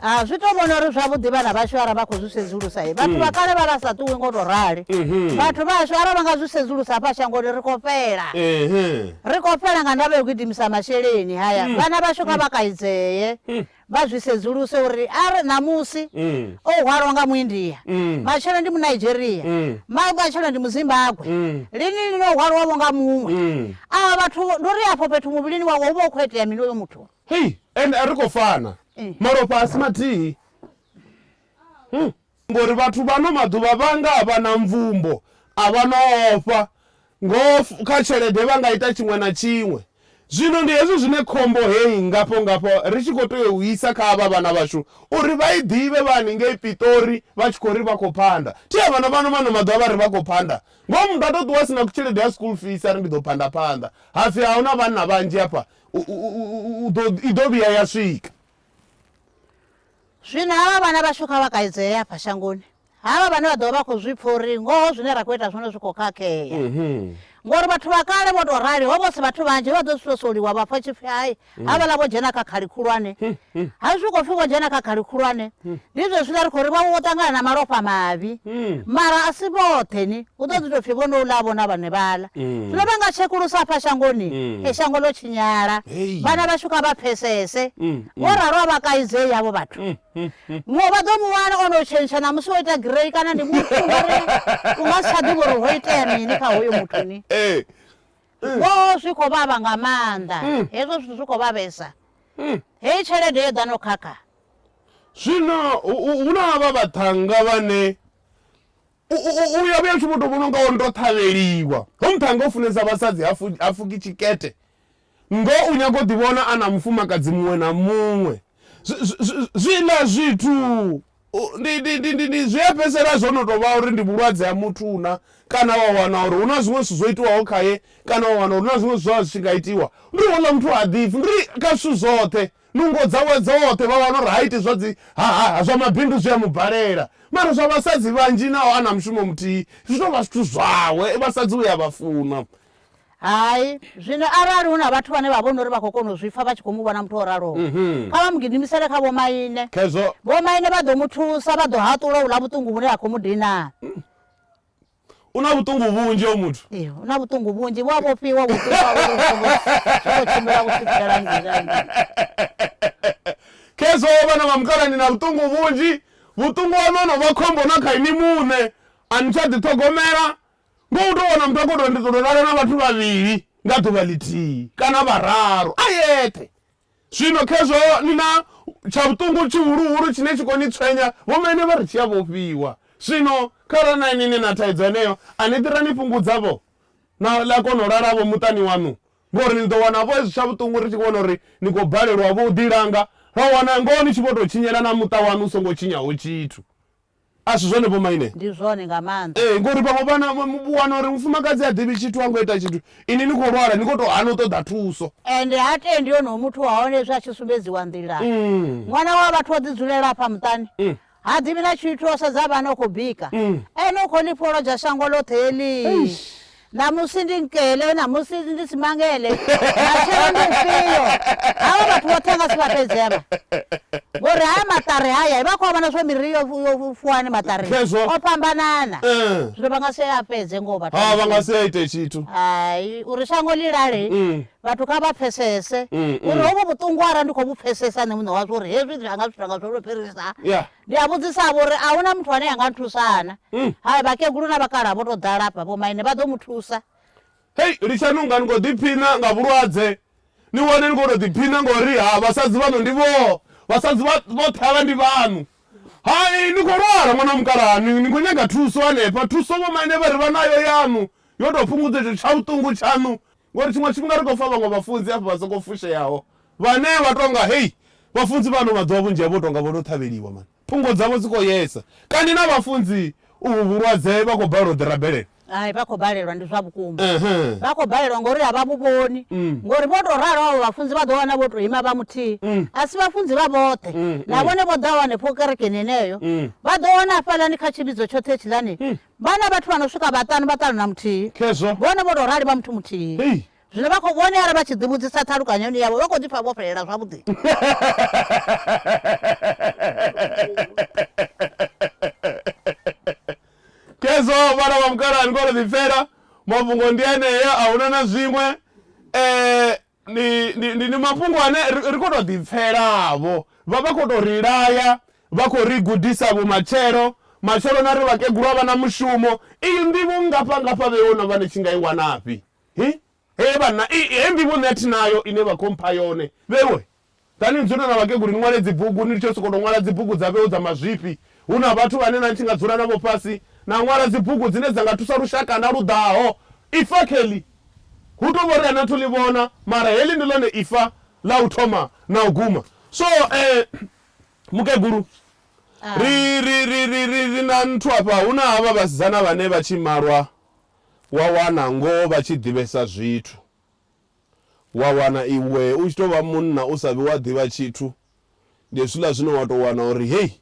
ha zwi to vhona uri zwavhuḓi vhana vhashu ara vha khou zwi sedzulusa i vhathu vha mm. kale vha la sa ṱuwi ngo to rali mm-hmm. vhathu vhashu ara vha nga zwi sedzulusa hafha shangoni ri khou fhela mm-hmm. ri khou fhela nga ndavha yo gidimisa masheleni haya mm. vhana vhashu kha mm. vha kaidzee vha zwi sedzuluse uri are ṋamusi o hwalwa nga muindia matshelo ndi munigeria matshelo ndi muzimbabwe lini lino o hwalwavho nga muṅwe aa vhathu ndi uri afho fhethu muvhilini wawe hu vha u khou itea mini oyo muthu Hei, ende a ri khou fana. Malofha a si mathihi. Huh. Ngori vhathu vha ano maḓuvha vha nga a vha na mvumbo, a vha no ofha, ngoho f, kha tshelede vha nga ita tshiṅwe na tshiṅwe. Zwino ndi hezwi zwine khombo heyi ngafho-ngafho ri tshi khou tea u i isa kha avha vhana vhashu uri vha i ḓivhe vha haningei Piṱori vha tshi khou ri vha khou phanda. Thi a vhana vhano vha ano maḓuvha vha ri vha khou phanda. Ngoho muthu a tou ṱuwa a si na tshelede ya school fees a ri ndi ḓo phanda phanḓa, ha pfi a hu na vhanna vhanzhi hafha, i ḓo vhuya ya swika. Zwino havha vhana vhashu kha vha kaidzee hafha shangoni, havha vhane vha ḓo vha vha khou zwi pfa uri ngoho zwine ra khou ita zwone zwi khou khakhea. Ngori vhathu vha kale vho tou rali, ho vha hu si vhathu vhanzhi, he vha ḓo swosoliwa vha pfa tshipfi hai, havhaḽa vho dzhena kha khali khulwane, hmm. ha zwi khou pfhi vho dzhena kha khali khulwane hmm. ndi zwezwiḽa ri khou ri vhavho vho ṱangana na malofha mavhi hmm. mara a si vhoṱhe ni hu ḓo ḓi tou pfhi vho no ḽa vhona vhane vhaḽa zwino vha nga tshekulusa afha shangoni e shango ḽo tshinyala vhana vhashu kha vha pfesese vho ralo a vha kaidze yavho vhathu ngo vha ḓo mu wana o no tshentsha na musi wo ita grey kana ndi muthu ngari u nga si tsha ḓivha uri ho itea mini kha hoyo muthu ni Ngoho zwi khou vhavha nga maanḓa. Hezwo zwithu zwi khou vhavhesa. Heyi tshelede yo ḓa no khakha. Zwino hu na havha vhaṱhannga vhane u ya vhuya u tshi vho tou vhona u nga wo ndo ṱhavheliwa. Hoyu muṱhannga u funesa vhasadzi, ha fuki tshikete. Ngoho u nyaga u ḓivhona a na mufumakadzi muṅwe na muṅwe. Zwiḽa zwithu Ndi, ndi, ndi, ndi, ndi zwi a fhedzisela zwo no tou vha uri ndi vhulwadze ha muthu una, kana wa wana uri hu na zwiṅwe zwithu zwo itiwaho khaye, kana wa wana uri hu na zwiṅwe zwithu zwa zwi tshi nga itiwa. Ndi ri houḽa muthu ha ḓipfi, ndi ri kha zwithu zwoṱhe, nungo dzawe dzoṱhe, vha wana uri ha iti zwa dzi, ha, ha, ha, zwa mabindu zwi a mu balela. Mara zwa vhasadzi vhanzhi naho a na mushumo muthihi, zwi tou vha zwithu zwawe, vhasadzi u a vha funa. Hai, zwino arali hu na vhathu vhane vha vhona uri vha khou kona u zwi pfa vha tshi khou mu vhona muthu o raloho, mhm. kha vha mu gidimisele kha vhomaine. Khezwo. Vhomaine vha ḓo mu thusa, vha ḓo haṱula u ḽa vhuṱungu vhune ha khou mu dina. Mm. U na vhuṱungu vhunzhi o muthu ee u na vhuṱungu vhunzhi vhu a vhofhiwa vhofhiwa uri u songo songo tshimbila u swikela ngizangi khezwo vhana vha mukalani na vhuṱungu vhunzhi vhuṱungu wanu ono vha khombo na kha ini muṋe a ni tsha ḓiṱhogomela Ngo u tou wana muthu a khou tou ri ndi ḓo tou lala na vhathu vhavhili nga ḓuvha ḽithihi kana vhararu a yeṱhe. Zwino khezwo ni na tsha vhuṱungu tshihuluhulu tshine tshi khou ni tswenya, vhomaine vha ri tshi a vhofhiwa. Zwino kharali na inwi ni na thaidzo yeneyo, a ni ḓi ra ni fhungudza-vho na na kona u lala-vho muṱani waṋu ngori ni ḓo wana-vho hezwi tsha vhuṱungu ri tshi vhona uri ni khou balelwa-vho u ḓilanga, ra wana ngoho ni tshi vho tou tshinyela na muṱa waṋu u songo tshinyaho tshithu. A si zwone, vhomaine? Ndi zwone nga maanḓa. Ee, ngauri vhaṅwe vhana vha wana uri mufumakadzi ha ḓivhi tshithu, ha ngo ita tshithu, inwi ni khou lwala, ni khou tou hana u ṱoḓa thuso. Ende ha tendi onoyo muthu wa hone hezwi a tshi sumbedziwa nḓila. Ṅwana wa vhathu o ḓidzulela hafha muṱani, ha ḓivhi na tshithu, o sedza vhana, u khou bika. Ene u khou ḽi fholodzha shango ḽoṱhe heḽi. Ṋamusi ndi nkele, ṋamusi ndi si mangele, matshelo ndi mfhio? Havha vhathu vhoṱhe nga si vha fhedze avha. Ngori haya maṱari haya vha khou a vhona zwa miri yo yo fuwa hani maṱari. Khezwo. O fhambanana. Eh. Zwino vha nga si a fhedze ngoho vhathu. Ha vha nga si a ite tshithu. Hai, uri shango ḽi lale, Mm. vhathu kha vha pfesese Mm, mm. uri hovhu vhuṱungu arali ndi khou vhu pfesesa nṋe muṋe wazwo uri hezwi zwi anga zwithu anga zwo lwo fhirisa. Yeah. Ndi a vhudzisa-vho uri a hu na muthu ane a nga nthusa-na? Hai, vhakegulu na vhakalaha vho tou ḓala afha, vhomaine vha ḓo mu thusa. Hei, litshani u nga ni khou ḓiphina nga vhulwadze, ni wane ni khou tou ḓiphina nga uri ha vhasadzi vhaṋu ndi vho, vhasadzi vha, vhoṱhe havha ndi vhaṋu. Hai, ni khou lwala ṅwana wa mukalaha, ni, ni khou nyaga thuso hanefha, thuso vhomaine vha ri vha nayo yaṋu, yo tou fhungudza itsho tshavhuṱungu tshaṋu. Ngori tshiṅwe tshifhinga ri khou pfa vhaṅwe vhafunzi hafha vha songo fusheaho vhane vha tou nga, Hei, vhafunzi vha ano maḓuvha vhunzhi havho u tou nga vho no ṱhavheliwa mani. Thungo dzavho dzi khou yesa. Kani na vhafunzi uvhu vhulwadze vha khou balelwa u ḓi rabelela? Hai, vha khou balelwa, ndi zwa vhukuma. Vha khou balelwa ngauri a vha vhu vhoni. Ngori vho tou ralo avho vhafunzi vha ḓo wana vho tou ima vha muthihi. A si vhafunzi vha vhoṱhe. Na vhone vho ḓaho hanefho kerekeni heneyo, vha ḓo wana hafhaḽani kha tshivhidzo tshoṱhe hetshiḽani, Vhana vhathu vha no swika vhaṱanu vha ṱanu na muthihi Khezwo. vhone vho tou rali vha muthu muthihi. Hei. Zwino vha khou vhonala vha tshi ḓivhudzisa ṱhalukanyoni yavho vha khou ḓi pfa vho fhelela zwavhuḓi. Khezwo vhana vha mukalaa ni khou tou ḓipfela mafhungo ndi enea a huna na zwiṅwe eh Ndi, ndi, ndi, ndi mafhungo ane ri, ri khou tou ḓipfela-vho. Vha vha khou tou ri laya, vha khou ri gudisa vhumatshelo. Matshelo na ri vhakegulu a vha na mushumo. Iyi nḓivho nngafha-ngafha vhe wo no vha ni tshi nga i wana-fhi? Hi, hee vhanna, i, hei nḓivho nṋe a thi nayo ine vha khou mpha yone. Vhe wo, Ḓa ni dzule na vhakegulu ni ṅwale dzibugu, ni litshe u sokou tou ṅwala dzibugu dza vheu dza mazwifhi. Hu na vhathu vhane na tshi nga dzula navho fhasi na ṅwala dzibugu dzine dza nga thusa lushakana lu ḓaho. Ifa Kelly, Hu tou vhori a ni athu ḽi vhona, mara heḽi ndi ḽone ifa ḽa u thoma na u guma. So, mukegulu, ri, ri, ri, ri, ri, ri na nthu hafha. Hu na havha vhasidzana vhane vha tshi malwa wa wana ngoho vha tshi ḓivhesa zwithu. Wa wana iwe u tshi tou vha munna u sa vhi wa ḓivha tshithu, ndi hezwiḽa zwine wa tou wana uri hei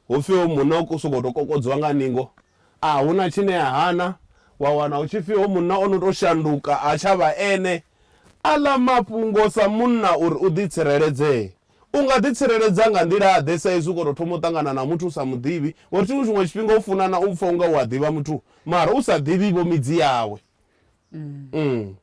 hu pfhi hoyu munna u sokou tou kokodziwa nga ningo, a hu na tshine a hana. Wa wana hu tshi pfhi hoyu munna o no tou shanduka, ha tsha vha ene. Aḽa mafhungo sa munna uri u ḓitshireledzee, u nga ḓitsireledza nga nḓila-ḓe sa izwi u khou tou thoma u ṱangana na muthu u sa mu ḓivhi? Ngori tshiṅwe tshiṅwe tshifhinga u funana u pfa u nga u a ḓivha muthu mara u sa ḓivhi-vho midzi yawe.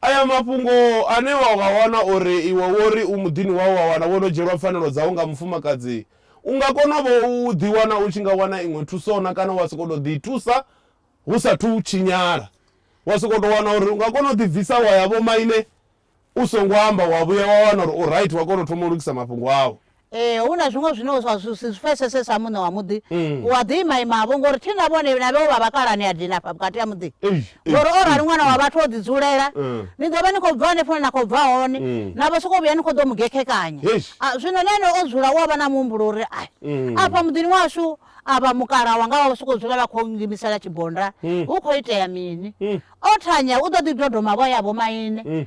Aya mafhungo ane wa nga wana uri iwe wo ri u muḓini wau wa wana vho no dzhielwa pfanelo dzau nga mufumakadzi, u nga konavho u ḓiwana u tshi nga wana iṅwe thuso-na kana wa sokou tou ḓithusa hu sa athu tshinyala. Wa sokou tou wana uri u nga kona u ḓibvisa wa ya vhomaine u songo amba wa vhuya wa wana uri u right wa kona u thoma u lugisa mafhungo au. Ee, hu na zwiṅwe zwine zwa zwi si zwi pfesese sa muṋe wa muḓi Mm. u a ḓi imaimavho ngori thi na vhone na vheo vha vhakalani a dina afha vhukati ha muḓi Ei, ei, ngori o rali ei, ṅwana wa ei. vhathu o ḓidzulela Mm. ni ḓo vha ni khou bva hanefho na khou bva hone Mm. na vha sokou vhuya ni khou ḓo mu gekhekanya Yes. Ah, zwino na ene o dzula u a vha na muhumbulo uri ai Mm. afha muḓini washu a vha mukala wanga vha vha sokou dzula vha khou ngimisela tshibonda Mm. hu khou itea mini Mm. o thanya u ḓo ḓi dodomavho ya vhomaine Mm.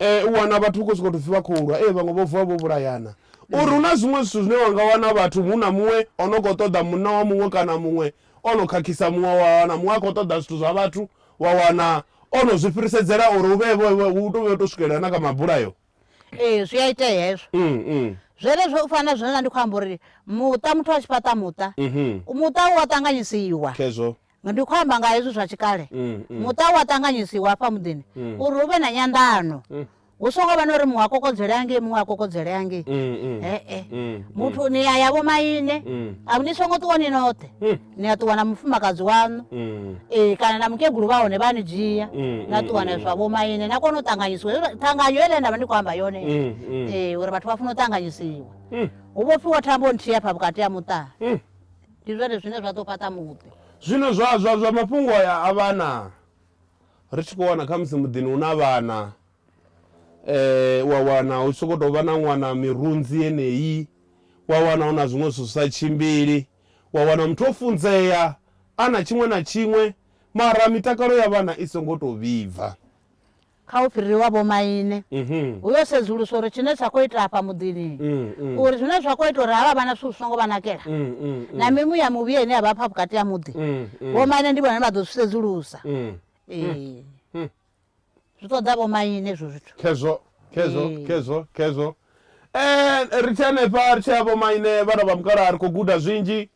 U wana vhathu hu khou sokou tou pfhi vha khou lwa, ee vhaṅwe vho vuwa vho vhulayana. U ri hu na zwiṅwe zwithu zwine wa nga wana vhathu hu na muṅwe o no khou ṱoḓa munna wa muṅwe kana muṅwe o no khakhisa muṅwe, wa wana muṅwe a khou ṱoḓa zwithu zwa vhathu wa wana o no zwi fhirisedzela uri hu vhe vho hu tou vhuya u tou swikelela na kha mabulayo. Ee zwi a itea hezwo. Zwenezwo u fana na zwine nda ndi khou amba uri muṱa muthu a tshi fhaṱa muṱa, muṱa u a ṱanganyisiwa. Khezwo. Ndi khou amba nga hezwi zwa tshikale muṱa u a ṱanganyisiwa hafha muḓini uri hu vhe na nyanḓano. Hu songo vha na uri muṅwe a kokodzelea ngei muṅwe a kokodzelea ngei. He-e. Muthu ni ya ya vho maine, a ni songo ṱuwa ni noṱhe. Ni a ṱuwa na mufumakadzi waṋu. Ee kana na mukegulu vha hone vha ni dzhia na ṱuwa na zwa vho maine na kona u ṱanganyisiwa. Hezwi ṱhanganyo heiḽa nda vha ndi khou amba yone ee uri vhathu vha funa u ṱanganyisiwa. Hu vhofhiwa thambo nthihi hafha vhukati ha muṱa. Ndi zwone zwine zwa ḓo fhaṱa muḓi. Zwino zwa, zwa, zwa mafhungo aya a vhana, ri tshi khou wana khamusi muḓini hu na vhana, u a wana hu tshi sokou tou vha na ṅwana mirunzi yeneyi, wa wana hu na zwiṅwe zwithu zwi sa tshimbili, wa wana muthu o funzea, a na tshiṅwe na tshiṅwe, mara mitakalo ya vhana i songo tou vhibva. kha u fhiriwa vhomaine, hu yo sedzuluswa uri tshine tsha khou itea afha muḓini, uri zwine zwa khou ita uri havha vhana zwithu zwi songo vha nakela na mimuya mivhuya ine ya vha afha vhukati ha muḓi, vhomaine ndi vhone vha ḓo zwi sedzulusa. Ee, zwi ṱoḓa vhomaine hezwo zwithu. Khezwo, khezwo, khezwo, khezwo. Eh, ri tshi hanefha ri tshi ya vhomaine vhana vha mukalaha ri khou guda zwinzhi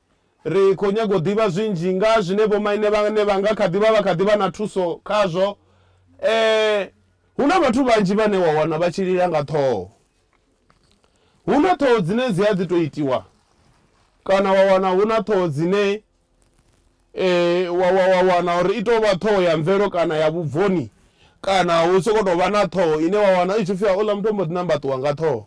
Ri khou nyaga u ḓivha zwinzhi nga ha zwine vhomaine vhane vha nga kha ḓi vha vha kha ḓi vha na thuso khazwo. E, hu na vhathu vhanzhi vhane wa wana vha tshi lila nga ṱhoho. Hu na ṱhoho dzine dzi a ḓi tou itiwa kana wa wana hu na ṱhoho dzine e, wa, wa, wa wana uri i tou vha ṱhoho ya mvelo kana ya vhubvoni kana hu sokou tou vha na ṱhoho ine wa wana i tshi pfi hauḽa muthu o mbo ḓi nambaṱuwa nga ṱhoho.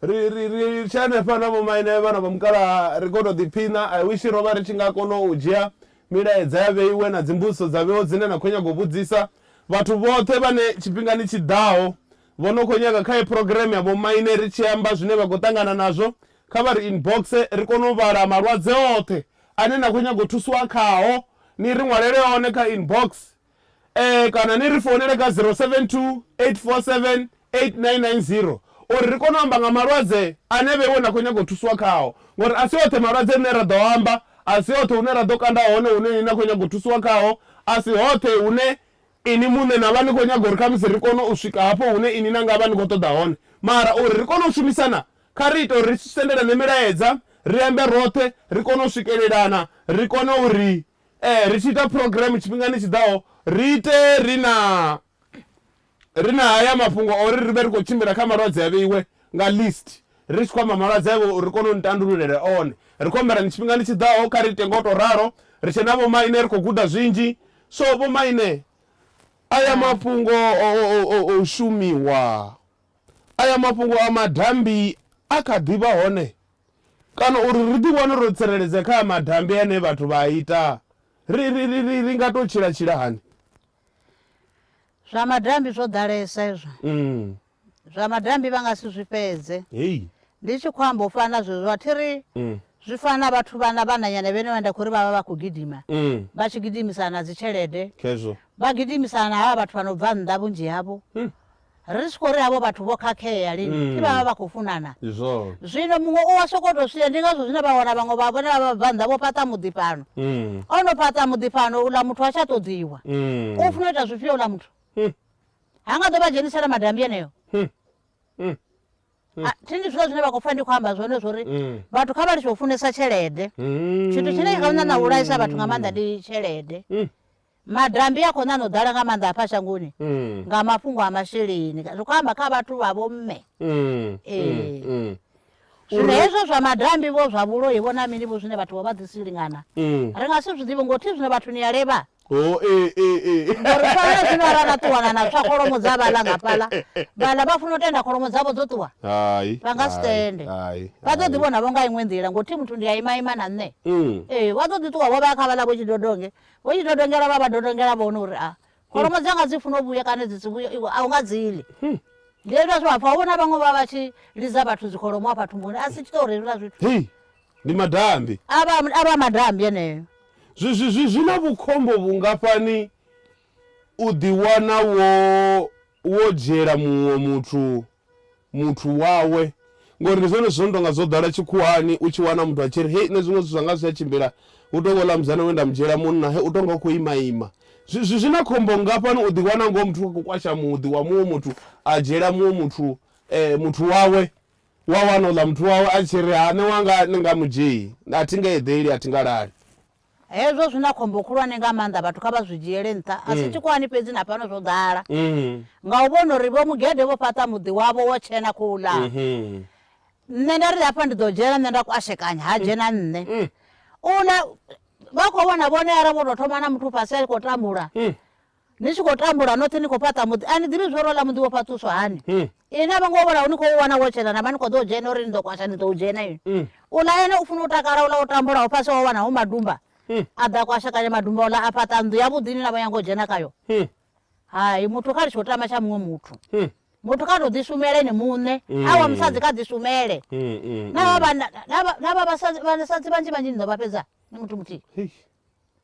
Ri ri ri tshi hanefha na vhomaine vhana vha mukalaha ri khou tou ḓiphina, I wish ro vha ri tshi nga kona u dzhia milaedza ya vheiwe na dzimbudziso dza vheiwa dzine na khou nyaga u vhudzisa vhathu vhoṱhe vhane tshifhingani tshi ḓaho vho no khou nyaga kha heyi phurogireme ya vhomaine ri tshi amba zwine vha khou ṱangana nazwo kha vha ri inboxe ri kone u vhala malwadze oṱhe ane na khou nyaga u thusiwa khao ni ri ṅwalele one kha inboxe Ee, kana ni ri founele kha 0728478990 uri ri kone u amba nga malwadze ane vhe iwe na khou nyaga u thusiwa khao. Ngori a si oṱhe malwadze rine ra ḓo a amba, a si hoṱhe hune ra ḓo kanda hone hune ni na khou nyaga u thusiwa khaho, a si hoṱhe hune inwi muṋe na vha ni khou nyaga uri khamusi ri kone u swika hafho hune inwi na nga vha ni khou ṱoḓa hone. Mara uri ri kone u shumisana, kha ri ite uri ri sendelane milaedza, ri ambe roṱhe, ri kone u swikelelana, ri kone uri Ee, ri tshi ita phurogireme tshifhingani tshi ḓaho, ri ite ri na ri na haya mafhungo o ri ri vhe ri khou tshimbila kha malwadze a vheiwe nga list, ri tshi khou amba malwadze avho uri ri kone u ni tandululele one. Ri khou humbela ni tshifhingani tshi ḓaho kha ri ite nga u tou ralo, ri tshe na vhomaine ri khou guda zwinzhi. So vhomaine, aya Hai. mafhungo o o o o shumiwa, aya mafhungo a madambi a kha ḓi vha hone. Kana uri ri ḓiwane ro tsireledzea kha madambi ane vhathu vha a ita, ri, ri, ri, ri, ri nga tou tshila-tshila hani? Zwa madambi zwo ḓalesa hezwo. Mm. Zwa madambi vha nga si zwi fhedze. Hei. Ndi tshi khou amba u fana na zwezwo, a thi ri Mm. zwi fana na vhathu vhana vhananyana vhenevho vhane nda khou ri vha vha vha khou gidima, Mm. vha tshi gidimisana na dzitshelede, Khezwo. vha gidimisana na havha vhathu vha no bva nnḓa vhunzhi havho, Mm. Ri tshi khou ri havho vhathu vho khakhea lini, thi vha vha vha khou funana? Ndi zwone. Zwino muṅwe u wa sokou tou swia, ndi ngazwo zwine vha wana vhaṅwe vha vhone vha vhabvannḓa vho fhaṱa muḓi fhano. O no fhaṱa muḓi fhano, uḽa muthu ha tsha ṱoḓiwa. U funa u ita zwifhio uḽa muthu? Ha nga ḓo vha dzhenisela madambi eneo. A, thi ndi zwone zwine vha khou pfa ndi khou amba zwone zwo ri vhathu kha vha litshe u funesa tshelede. Tshithu tshine tsha khou ṋaṋa u vhulaisa vhathu nga maanḓa ndi tshelede. Madambi a khou ṋaṋa u ḓala nga maanḓa hafha shangoni mm. nga mafhungo a masheleni zwi khou amba kha vhathu vha vhomme mm, mm, ee mm, zwino hezwo zwa madambi vho zwa vhuloi vho na mini vho zwine vhathu vho vha ḓisi lingana mm. ri nga si zwi ḓivhe ngothi zwino vhathu ni ya levha oh, eh, eh, eh. ngori fana zwino ara na ṱuwana na tswa kholomo dza vhala nga fhala vhala vha funa u tenda kholomo dzavho dzo ṱuwa vha nga si tende vha ḓo ḓivhona vho nga iṅwe nḓila ngothi muthu ndi a imaima na nṋe mm. ee vha ḓo ḓi ṱuwa vho vha kha vhala vho tshidodonge Vho tshi dodongela vha vha dodongela vhone uri a kholomo dzanga dzi funa u vhuya kana dzi si vhuye iwe a u nga dzi ḽi Hei, ndi hezwiḽa zwe vha pfa vhona vhaṅwe vha vha tshi lidza vhathu dzikholomo hafha thumbuni a si tshi tou hezwiḽa zwithu hei, ndi madambi. a vha a vha madambi eneyo Zwi, zwi, zwi, zwi na vhukhombo vhungafhani u ḓiwana wo, wo dzhiela muṅwe muthu muthu wawe ngori ndi zwone zwithu zwo no tonga zwo ḓala tshikhuwani u tshi wana muthu a tshi ri hei nṋe zwiṅwe zwithu zwanga zwi tsha tshimbila hu tonga uḽa musidzana we nda mu dzhiela munna he u tonga u khou ima ima zwi zwi- zwi na khombo ngafhani u ḓi wana ngoho muthu a khou kwasha muḓi wa muṅwe muthu a dzhiela muṅwe muthu eh, muthu wawe wa wana uḽa muthu wawe a tshi ri ha nṋe wanga ni nga mu dzhii a thi nga eḓeli a thi nga lali Hezwo zwi na khombo khulwane nga maanḓa, vhathu kha vha zwi dzhiele nṱha. A si tshikhuwani fhedzi, na fhano zwo ḓala nga u vhona uri Vho Mugede vho fhaṱa muḓi wavho wo tshena khou ḽa. Nṋe nda ri hafha ndi ḓo dzhena nṋe nda kwashekanya, ha dzhena nṋe. U ḽa vha khou vhona vhone arali vho tou thoma na muthu fhasi a tshi khou tambula. ni tshi khou tambula noṱhe ni khou fhaṱa muḓi a ni ḓivhi zwo ri ola muḓi wo fhaṱuswa hani hmm. ine a vho ngo vholaho ni khou wana wo tshena na vha ni khou ḓo u dzhena uri ni ḓo kwasha ni ḓo u dzhena ini hmm. ula ene u funa u takala ula u tambulaho fhasi wa wana hu madumba hmm. a ḓa kwashakanya madumba ola a fhaṱa nnḓu yavhuḓi ni na vho nyanga u dzhena kayo hai muthu kha ri tshi u tama tsha muṅwe muthu muthu kha tou ḓishumele ni muṋe mm. awa musadzi kha ḓishumele mm, mm, na vha vhasadzi vhanzhi vhanzhi ni ḓo vha fhedza ni muthu muthihi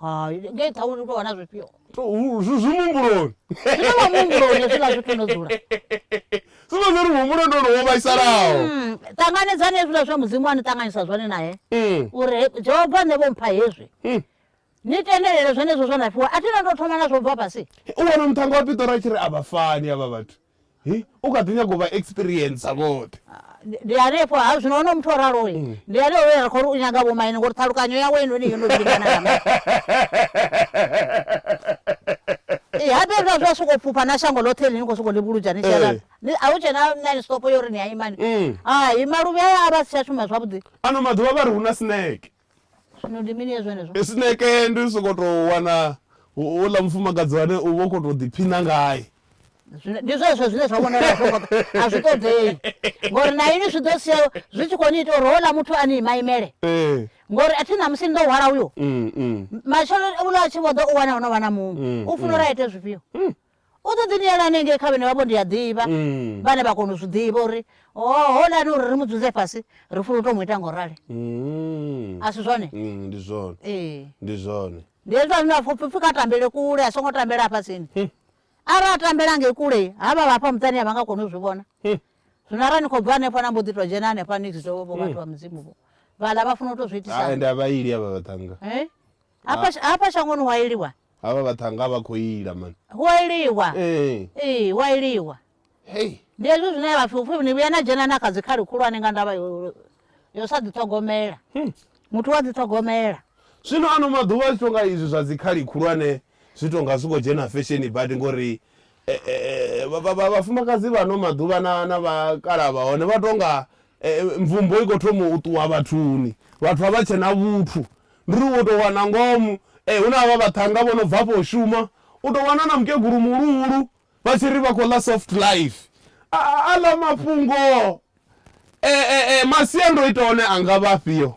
hai ngei ṱhauni u tou wana zwifhio zwi muhumbuloni zwine wa muhumbuloni hezwiḽa zwithu no dzula zwivha zwi ri muhumbulo ndo no wo vhaisalaho mm, ṱanganedzani hezwiḽa zwa mudzimu a ni ṱanganyisa zwone naye mm. uri jehova nṋe vho mpha hezwi mm. ni tendelele zwenezwo zwa na fhiwa a thi na ndo thoma na zwo bva fhasi u wana muṱhanga wa piṱora tshi ri a vha fani avha vhathu Hi, u kha ḓi nyaga u vha experiencer vhoṱhe. Ndi hanefho ha zwino ho no muthu o raloi mm. ndi haneo we ra khou ri u nyaga vhomaine ngori ṱhalukanyo yawe heinoni yo no lingana ya ma ee habe hezwa zwa sokou fhufha na shango ḽoṱhe ḽi ni khou sokou livhuludza ni tshiaa eh. a hu tshe na nani stopo yo ri ni a imani mm. hai maluvhi aya a vha si tsha shuma zwavhuḓi ano maḓuvha vha ri hu na snake Zwino ndi mini ya zwenezwo? Esneke ndi u sokou tou wana houḽa mufumakadzi ane u vha u khou tou ḓiphina ngae. Zwino ndi zwezwo zwine zwa vhonala zwo ngo a zwi ṱoḓei ngori na ini zwi ḓo sia zwi tshi khou ni ita uri houḽa muthu a ni imaimele Ee. ngori a thi ṋamusi ni ḓo hwala uyo Mm, mm, matshelo uḽa a tshi vho ḓa u wana ho no vha na muṅwe u funa uri a ite zwifhio U ḓo ḓi ni yela hanengei kha vhane vha vho ndi a ḓivha, vhane vha kona u zwi ḓivha uri holani uri ri mu dzudze fhasi, ri funa u tou mu ita nga u rali. A si zwone? Ndi zwone. Ee. Ndi zwone. Ndi hezwi ane a pfa upfi kha tambele kule, a songo tambela hafha tsini. Arali a tambela ngei kule, havha vha hafha muṱani a vha nga koni u zwi vhona. Zwino arali ni khou bva hanefho na mbo ḓi tou dzhena hanefha ni vhidze vho vhathu vha mudzimu vho, vhaḽa vha funa u tou zwi itisa. Ende a vha ili havha vhaṱhannga. Hafha shangoni hu a iliwa. Havha vhaṱhannga vha khou ila man. Hu a iliwa. Ee. Ee, hu a iliwa. Hey. Ndi hezwi zwine vha pfi upfi ni vhuya na dzhena na kha dzikhali khulwane nga ndavha yo yo sa ḓi ṱhogomela. Hmm. Muthu wa ḓi ṱhogomela. Zwino ano maḓuvha zwi tonga izwi zwa dzikhali khulwane zwi tonga zwi khou dzhena fesheni badi ngori eh, eh, eh, vhafumakadzi vha no maḓuvha na na vhakala vha hone vha tonga Mvumbo i khou thoma u ṱuwa vhathuni. Vhathu a vha tshe na vhuthu. Ndi ri wo tou wana ngomu hu na havha vhaṱhannga vho no bva afho u shuma, u tou wana na mukegulu muhuluhulu vha tshi ri vha khou ḽa soft life. Aḽa mafhungo masiandoitwa a hone a nga vha afhio?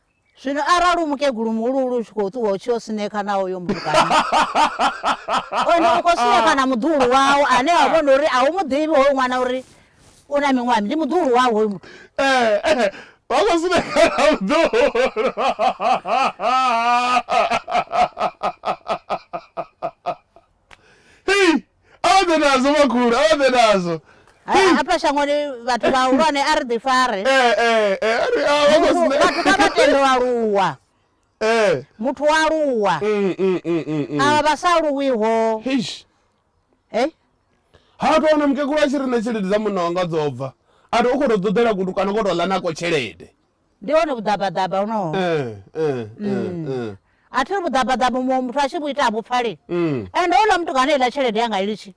Zwino arali u mukegulu muhuluhulu u tshi khou ṱuwa u tshi yo sinekha na hoyo mbulukano, hone u khou sinekha na muḓuhulu wau ane wa vhona uri a u mu ḓivhi hoyu ṅwana uri u na miṅwaha, ndi muḓuhulu wau hoyu muthu. Ee, vha khou sinekha na muḓuhulu. hei aoḓe nadzo makhulu aoḓe nadzo hafha shangoni vhathu vhahulwane a ri ḓi fare eh, eh, eh, vhathu kha vha tende u aluwa muthu wa aluwa mm, mm, mm, avha vha sa aluwiho ha to wana mukegulu a tshi ri na tshelede dza munna wanga dzo bva a to u khou to ṱoḓela kutu kana u khou to ḽa nako tshelede Ndi hone vhuḓabaḓaba honoho. Eh, eh, eh, eh. a thi ri vhuḓabaḓaba muṅwe muthu a tshi vhu ita vhupfali Mm. ende houḽa muthu kana iḽa tshelede yanga ilitshi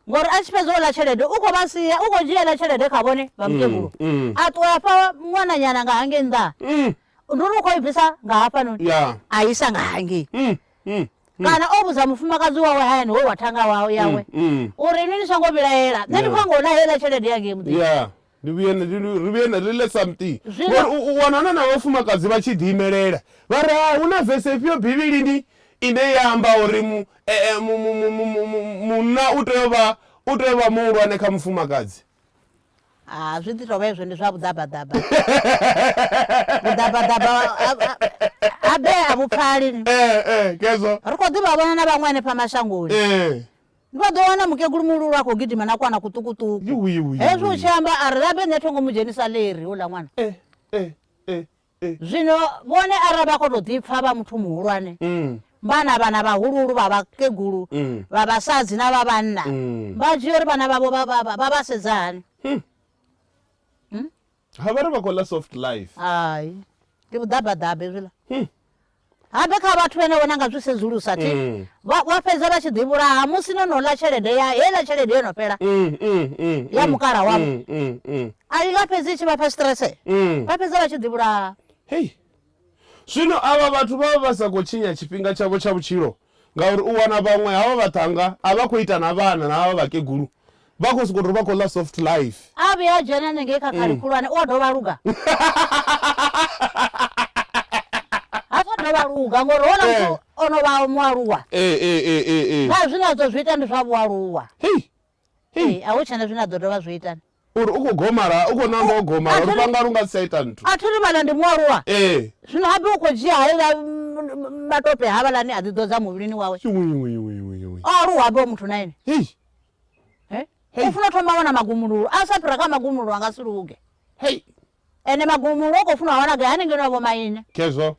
ngori a tshi fhedza uḽa tshelede u khou vha sia u khou dzhia iḽa tshelede kha vhone vha mukegulu mm. a ṱuwa a fha ṅwananyana nga hangei nnḓa Mm. ndi uri u khou i bvisa nga hafhanoni Ya. a isa nga hangei Mm. Mm. kana o vhudza mufumakadzi wawe hayani we wa thanga wawe yawe Mm. uri ini ni songo vhilaela nṋe ndi khou Ya. anga u ḽa heiḽa tshelede yangei muḓini Ya. ndi vhuye ri vhuye ri let something ngori u wana na na vhafumakadzi vha tshi ḓi imelela vha ri ha hu na vese ifhio bivhilini ine ya amba uri mu e, e, munna u tea u vha u tea u vha muhulwane kha mufumakadzi ha zwi ḓi tovha ezwo ndi zwa vhuḓabaḓaba vhuḓabaḓaba habe a vhupfali eh, eh, kezwo ri khou ḓivha vhona na vhaṅwe hanefha mashangoni eh. vha ḓo wana mukegulu muhululu a khou gidima na kwana kuṱukuṱuku hezwi u tshi amba a ri labe nṋe thongo mu dzhenisa leri uḽa ṅwana eh, eh, eh, zwino vhone arali vha khou tou ḓipfa vha muthu muhulwane mm. vhana vhana vhahuluhulu vha vhakegulu mm. vha vhasadzi na vha vhanna mm. vha dzhia uri vhana vhavho vha vha sedza hani hmm. Ha vhari vha khou ḽa soft life. Hai. Ndi vhuḓabaḓaba hezwiḽa. Hmm. Habe kha vhathu vhane vhona nga zwi sedzulusa thi. Hmm. Vha wa fhedza vha tshi ḓi vhulaha musi no no ḽa tshelede ya he ḽa tshelede yo no fhela. Hmm, hmm, ya mukala wavho. A i nga fhedzi tshi vha fha stress. Vha fhedza vha tshi ḓi vhulaha. Hey. Zwino avha vhathu vha vha vha sa khou tshinya tshifhinga tshavho tsha vhutshilo ngauri u wana vhaṅwe havha vhaṱhannga a vha khou ita na vhana na havha vhakegulu vha khou sokou tou vha khou ḽa soft life a vhuya a dzhena nengei kha khali khulwane u a dovha luga ha tsha dovha luga ngori hona muthu o no vha mualuwa na zwine a ḓo zwi ita ndi zwa vhualuwa Hei, a hu tshena zwine a ḓo dovha zwi itani. Uri u khou gomala, u khou namba u gomala, lufhanga lu nga si tsha ita nthu. A thi ri vhana ndi mualuwa. Ee. Zwino habe u khou dzhia haeḽa matope havhalani a ḓi ḓodza muvhilini wawe. O aluwa habe o muthu na ene. Hei. U funa thoma wana magumululo, a sa fhira kha magumululo a nga si luge. Hei. Ene magumululo o khou funa wana gai hanengei na vho maine. Khezwo.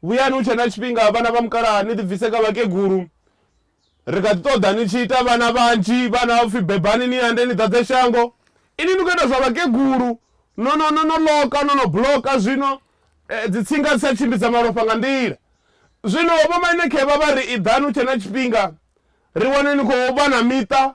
Vhuyani hu tshe na tshifhinga vhana vha mukalaha ni ḓibvise kha vhakegulu. Ri kha ḓi ṱoḓa ni tshi ita vhana vhanzhi, vhana vha pfi bebani ni ande ni ḓadze shango. Inwi ni khou ita zwa vhakegulu, no no no no loka no no bloka zwino dzitsinga dzi tsha tshimbidza malofha nga nḓila. Zwino vho maine khevha vha ri iḓani hu tshe na tshifhinga ri wane ni khou vha na miṱa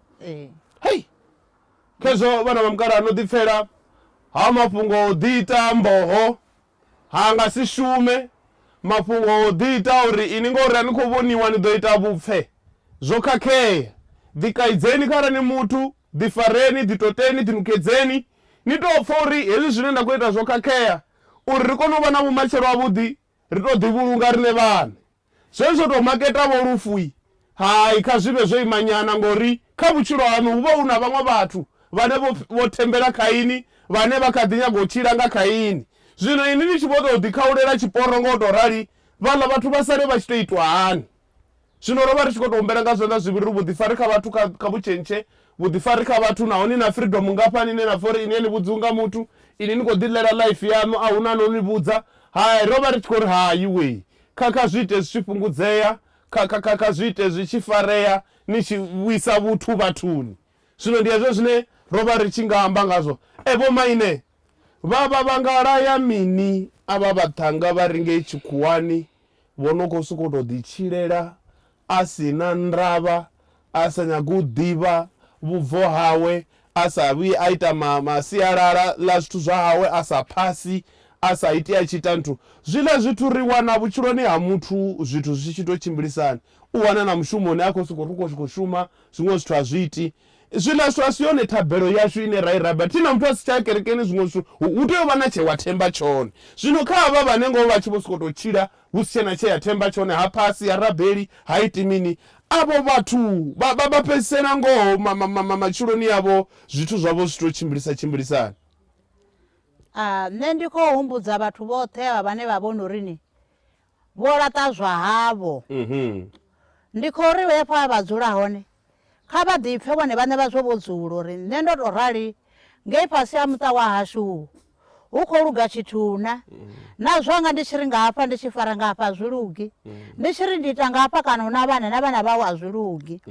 Ee. Hei! Khezwo vhana vha mukalaha no ḓipfela ha mafhungo o ḓi ita mboho ha nga si shume mafhungo o ḓi ita uri ini ngori a ni khou vhoniwa ni ḓo ita vhupfe zwo khakhea ḓi kaidzeni kharali ni muthu ḓi fareni ḓi toteni ḓi nukedzeni ni tou pfha uri hezwi zwine nda khou ita zwo khakhea uri ri kone u vha na vhumatshelo ha vhuḓi ri tou ḓivhulunga riṋe vhaṋe. Zwezwi zwo tou maketa-vho lufu-i? Hai, kha zwi vhe zwo ima nyana, ngauri kha vhutshilo haṋu hu vha hu na vhaṅwe vhathu vhane vho, vho thembela kha inwi, vhane vha kha ḓi nyaga u tshila nga kha inwi. Zwino inwi ni tshi vho tou ḓikhaulela tshiporo nga u tou rali, vhaḽa vhathu vha sale vha tshi tou itwa hani? Zwino ro vha ri tshi khou tou humbela nga zwanḓa zwivhili uri vhuḓifari kha vhathu kha, kha vhu tshentshe vhuḓifari kha vhathu naho ni na freedom ngafhani ine na pfa uri ini a ni vhudziwi nga muthu ini ni khou ḓiḽela life yaṋu a hu na no ni vhudza hai ro vha ri tshi khou ri hai wei kha kha zwi ite zwi tshi fhungudzea kha kha kha kha zwi ite zwi tshi farea ni tshi vhuisa vhuthu vhathuni zwino ndi hezwo zwine ro vha ri tshi nga amba ngazwo e vho maine vha vha vha nga laya mini a vha vhaṱhanga vha ri ngei tshikhuwani Vho no khou sokou tou ḓitshilela a si na ndavha, a sa nyagi u ḓivha vhubvo hawe, a sa vhuyi a ita ma, ma sialala ḽa zwithu zwa hawe, a sa phasi, a sa iti a tshi ita nthu. Zwiḽa zwithu ri wana vhutshiloni ha muthu zwithu zwi tshi tou tshimbilisana. U wana na mushumoni a khou sokou, ri khou, khou shuma, zwiṅwe zwithu a zwi iti. Zwiḽa zwithu a si yone thabelo yashu ine ra i rabela. Thi na muthu a si tsha ya kerekeni, zwiṅwe zwithu hu, hu tea u vha na tshe wa themba tshone. Zwino kha havha vhane ngoho vha tshi vho sokou tou tshila hu si tshe na tshe ya themba tshone, ha phasi, ha rabeli, ha iti mini, avho vhathu vha, vha, vha fhedzisela ngoho ma, ma, ma, ma, matshiloni avho zwithu zwavho zwi tshi tou tshimbilisa tshimbilisani. A, nṋe ndi khou humbudza vhathu vhoṱhe avha vhane vha vhona uri ni Vho laṱa zwa havho. Ndi khou ri vhe hafha vha dzula hone, kha vha ḓipfe vhone vhaṋe vha zwo vhudzula uri nṋe ndo tou rali ngei fhasi ha muṱa wa hashu hu khou luga tshithu-na. Na zwanga ndi tshi ri nga hafha ndi tshi fara nga hafha a zwi lugi, ndi tshi ri ndi ita nga hafha kana hu na vhana na vhana vhau a zwi lugi.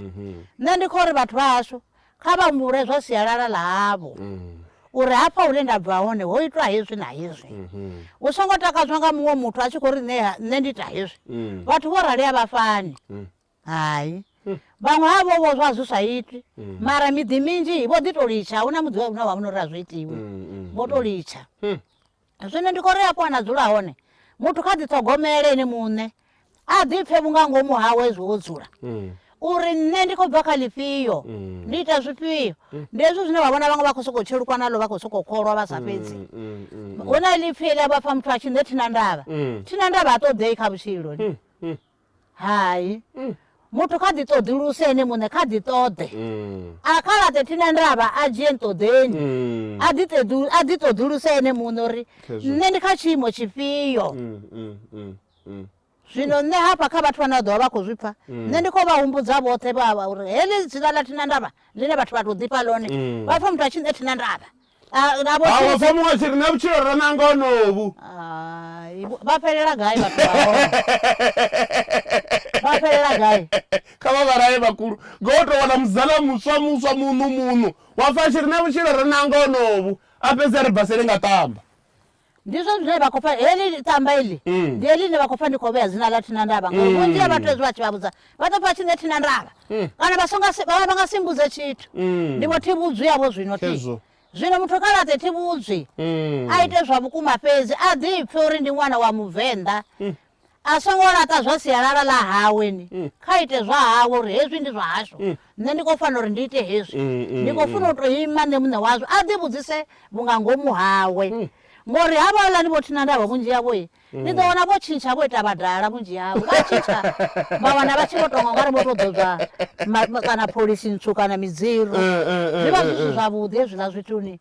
Nṋe ndi khou ri vhathu vha hashu Kha vha humbule zwa sialala ḽa havho, uri hafha hune nda bva hone ho itwa hezwi na hezwi. Hu songo takadzwa nga muṅwe muthu a tshi khou ri nṋe, nṋe ndi ita hezwi. Vhathu vho rali a vha fani. Hai. Vhaṅwe ha vho vhozwa a zwi sa itwi, mara miḓi minzhi vho ḓi tou litsha, a hu na muḓi wa vhuṋe wa vhuṋe uri a zwi itiwi. Vho tou litsha. Zwino ndi khou ri afho a na dzula hone, muthu kha ḓiṱhogomele ene muṋe, a ḓipfe vhunga ngomu hawe zwi ho dzula. Mm. uri nṋe ndi khou bva kha ḽifhio mm. ndi ita zwifhio mm. ndi hezwo zwine vha vhona vhaṅwe vha khou sokou tshelukwa nalo vha khou sokou kholwa vha sa fhedzi hu na ḽipfhi ḽa vha pfa muthu a tshi nṋe thina ndavha thina ndavha ha ṱoḓei kha vhutshiloni Hai. Muthu kha ḓi ṱoḓuluse ene muṋe, kha ḓi ṱoḓe. A kha laṱe thina ndavha, a dzhie nṱoḓeni. A ḓi ṱeḓu, a ḓi ṱoḓuluse ene muṋe uri nṋe ndi kha tshiimo tshifhio. Zwino nṋe hafha kha vhathu vhane vha ḓovha vha khou zwi pfa, nṋe ndi khou vha humbudza vhoṱhe vha uri heḽi dzina ḽa thina ndavha ḽine vhathu vha tou ḓifha ḽone, vha pfa muthu a tshi nṋe thina ndavha. A, na vho Hawa pfa muṅwe a tshi ri na vhutshilo ra nanga honovhu. Hai, vho- vha fhelela gai vhathu vha hone vha fhelela gai kha vha vhalaye vhakulu ngo u tou wana muzala muswa muswa muṋu muṋu wa pfa a tshi ri na vhutshilo ra nanga honovhu a fhedzi a ri basele nga ṱamba ndi zwone zwine vha khou pfa heḽi tamba iḽi Mm. ndi heḽi ine vha khou pfa ndi khou vhea dzina ḽa thina ndavha ngauri vhunzhi ha vhathu hezwi vha tshi vha vhudza vha ḓo pfa tshi ne thina ndavha kana vha songa si- vha vha nga simbudze tshithu Mm. ndi vho thi vhudzwi yavho zwino thi Khezwo. zwino muthu kha laṱe thi vhudzwi Mm. a ite zwa vhukuma fhedzi a ḓipfe uri ndi ṅwana wa muvenḓa a songo laṱa zwa sialala ḽa hawe ni mm. kha ite zwa hawe uri hezwi ndi zwa hashu mm. nṋe ndi khou fanela uri ndi ite hezwi mm, ndi khou funa u tou ima nṋe muṋe wazwo a ḓi vhudzise vhunga ngomu hawe ngori ha vhaola ni vho thina ndavha vhunzhi yavho i ni ḓo wana vho tshintsha vho ita vhadala vhunzhi yavho vha tshintsha vha wana vha tshi vho tonga ngari vho to ḓodzwa kana pholisi ntswu kana midziro eh, eh, eh, zwi vha zwi si zwavhuḓi hezwiḽa zwituni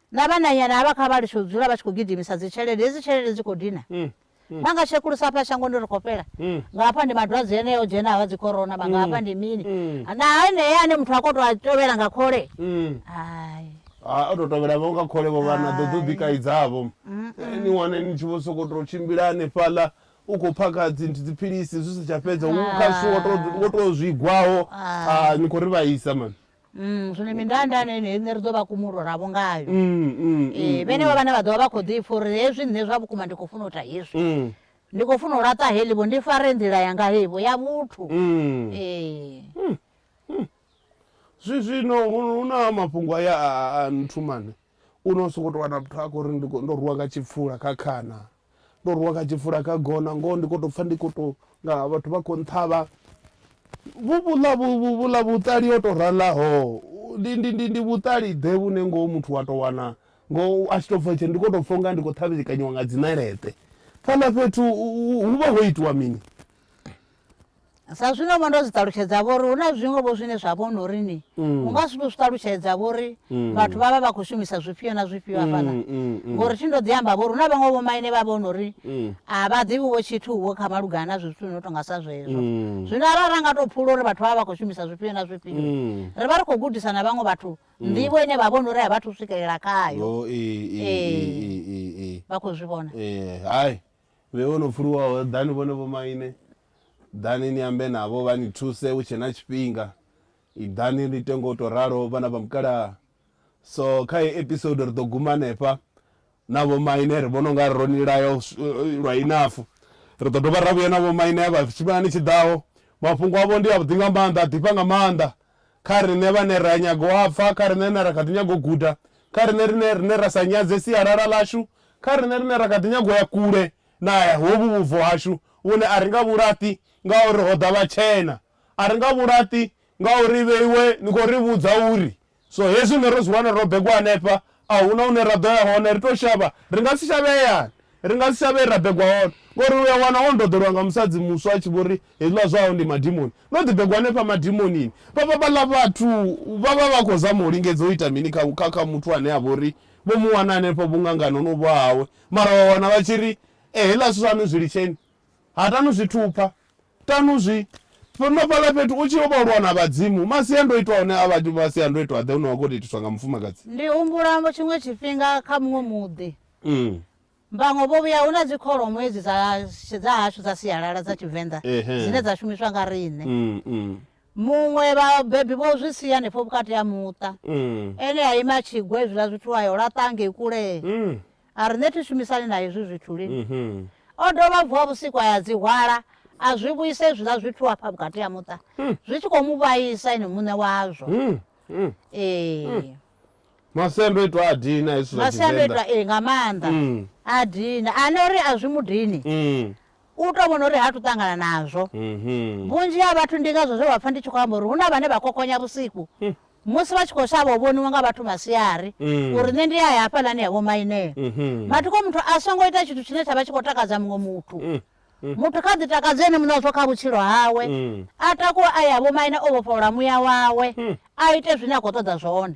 na vhananyana havha kha vha litshe u dzula vha tshi khou gidimisa dzitshelede, hedzi tshelede dzi khou dina. Vha nga tshekulusa hafha shangoni uri khou fhela, nga hafha ndi madwadze eneo o dzhenaho a dzi corona, vha nga hafha ndi mini. Na enea ane muthu a khou tou a tovhela nga khole, hai. O tou tovhela vho nga khole vho vhana ḓo ḓo ḓikaidzavho. Ni wane ni tshi vho sokou tou tshimbila hanefhaḽa u khou phakha dzi dziphilisi zwi si tsha fhedza, u kha zwithu wo tou wo tou zwigwaho, ni khou ri vhaisa mani. Mm, zwino mindanda ane ine riṋe ri ḓo vha kumulolavho ngayo mm, mm, ee mm, vhenevho vhane vha ḓovha vha khou ḓi pfa uri hezwi nṋe zwa vhukuma ndi khou funa u ita hezwi mm, ndi khou funa u laṱa heḽivho ndi fare nḓila yanga hevho ya vhuthu mm. ee zwi zwino hu hu na mafhungo aya a- a a nthumane U no sokou tou wana muthu a khou ri ndi khou, ndo rwiwa nga tshipfula kha khana, ndo rwiwa nga tshipfula kha gona, ngoho ndi khou tou pfha ndi khou tou nga vhathu vha khou nṱhavha. Vhu vhuḽa vhu vhu vhuḽa vhuṱali ho tou ralaho, ndi ndi ndi ndi vhuṱali-ḓe vhune ngoho muthu wa tou wana ngoho a tshi tou pfha tshee ndi khou tou pfha u nga ndi khou ṱhavhekanyiwa nga dzi ṋeleṱe. Fhaḽa fhethu hu vha ho itiwa mini? Sa zwino vho ndo zwi ṱalutshedza vho ri hu na zwiṅwe vho zwine zwa vhona uri ni mm. u nga si tou zwi ṱalutshedza vho ri mm. vhathu vha vha vha khou shumisa zwifhio na zwifhio hafhaḽa mm, ngori thi ndo ḓi amba vho ri hu na vhaṅwe vho maine vha vhona uri a vha ḓivhi wo tshithu wo kha malugana na zwithu no tonga sa zwezwo zwino arali ra nga tou phula uri vhathu vha vha vha khou shumisa zwifhio na zwifhio ri vha ri khou gudisa na vhaṅwe vhathu nḓivho ine vha vhona uri a vha thu swikelela khayo vha khou zwi vhona hai Vhe vho no pfuluwaho, ḓani vhone vhomaine, ḓani ni ambe navho vha ni thuse hu tshe na tshifhinga. Iḓani ni ite nga u tou ralo, vhana vha mukalaha. So, kha heyi episode ri ḓo guma hanefha na vhomaine. Ri vhona u nga ro ni laya lwa inafu. Ri ḓo dovha ra vhuya na vhomaine vha tshifhingani tshi ḓaho. Mafhungo avho ndi avhuḓi nga maanḓa, a ḓifha nga maanḓa. Kha riṋe vhane ra nyaga u a pfa, kha riṋe rine ra kha ḓi nyaga u guda, kha riṋe rine rine ra sa nyadze sialala ḽashu, kha riṋe rine ra kha ḓi nyaga u ya kule na hovhu vhubvo hashu vhune a ri nga vhu laṱi ngauri ho ḓa vhatshena. A ri nga vhu laṱi ngauri vheiwe ni khou ri vhudza uri so hezwi rine ro zwi wana ro begwa hanefha A hu na hune ra ḓo ya hone, ri tou shavha. Ri nga si shavhe hayani. Ri nga si shavhe he ra begwa hone. Ngori u a wana o ndoḓelwa nga musadzi muswa a tshi vho ri, Hezwiḽa zwahau ndi madimoni. Ndo ḓi begwa hanefha madimonini. Vha vha vhaḽa vhathu vha vha vha khou zama u lingedza u ita mini kha, kha, kha muthu ane a vha uri vho mu wana hanefho vhuṅangani ho no vha hawe? Mara wa wana vha tshi ri, Ee, heiḽa zwithu zwaṋu zwi litsheni. Hatanu zwi thupha. Ṱanu zwi no fhaḽa fhethu u tshi yo vha lwa na vhadzimu, masiandoitwa a hone a vha masiandoitwa-ḓe une wa khou tou itiswa nga mufumakadzi? Ndi humbula tshiṅwe tshifhinga kha muṅwe muḓi, vhaṅwe vho vhuya, hu na dzi kholomo hedzi dza dza hashu dza sialala dza Tshivenḓa dzine dza shumiswa nga riṋe. Muṅwe vhabebi vho zwi sia hanefho vhukati ha muṱa, ene a ima a tshi gwa hezwiḽa zwithu a yo laṱa hangei kule. A riṋe thi shumisani na hezwi zwithu lini. O dovha a vuwa vhusiku a ya dzi hwala, a zwi vhuisa hezwiḽa zwithu afha vhukati ha muṱa, zwi tshi khou mu vhaisa ene muṋe wazwo. Ee. Masiandoitwa a dina hezwi zwa Tshivenḓa. Masiandoitwa ee nga maanḓa. A dina, a no ri a zwi mu dini. u tou vhona uri ha tu ṱangana nazwo. Vhunzhi ha vhathu ndi ngazwo zwe vha pfa ndi tshi khou amba uri hu na vhane vha kokonya vhusiku musi vha tshi khou shavha u vhoniwa nga vhathu masiari uri nṋe ndi a ya hafhaḽani ya vhomainea. Mathoko muthu a songo ita tshithu tshine tsha vha tshi khou takadza muṅwe muthu. Muthu kha ḓi takadze ene muṋe wa zwo kha vhutshilo hawe, a takuwe a ya vhomaine o vhofholola muya wawe, a ite zwine a khou ṱoḓa zwone.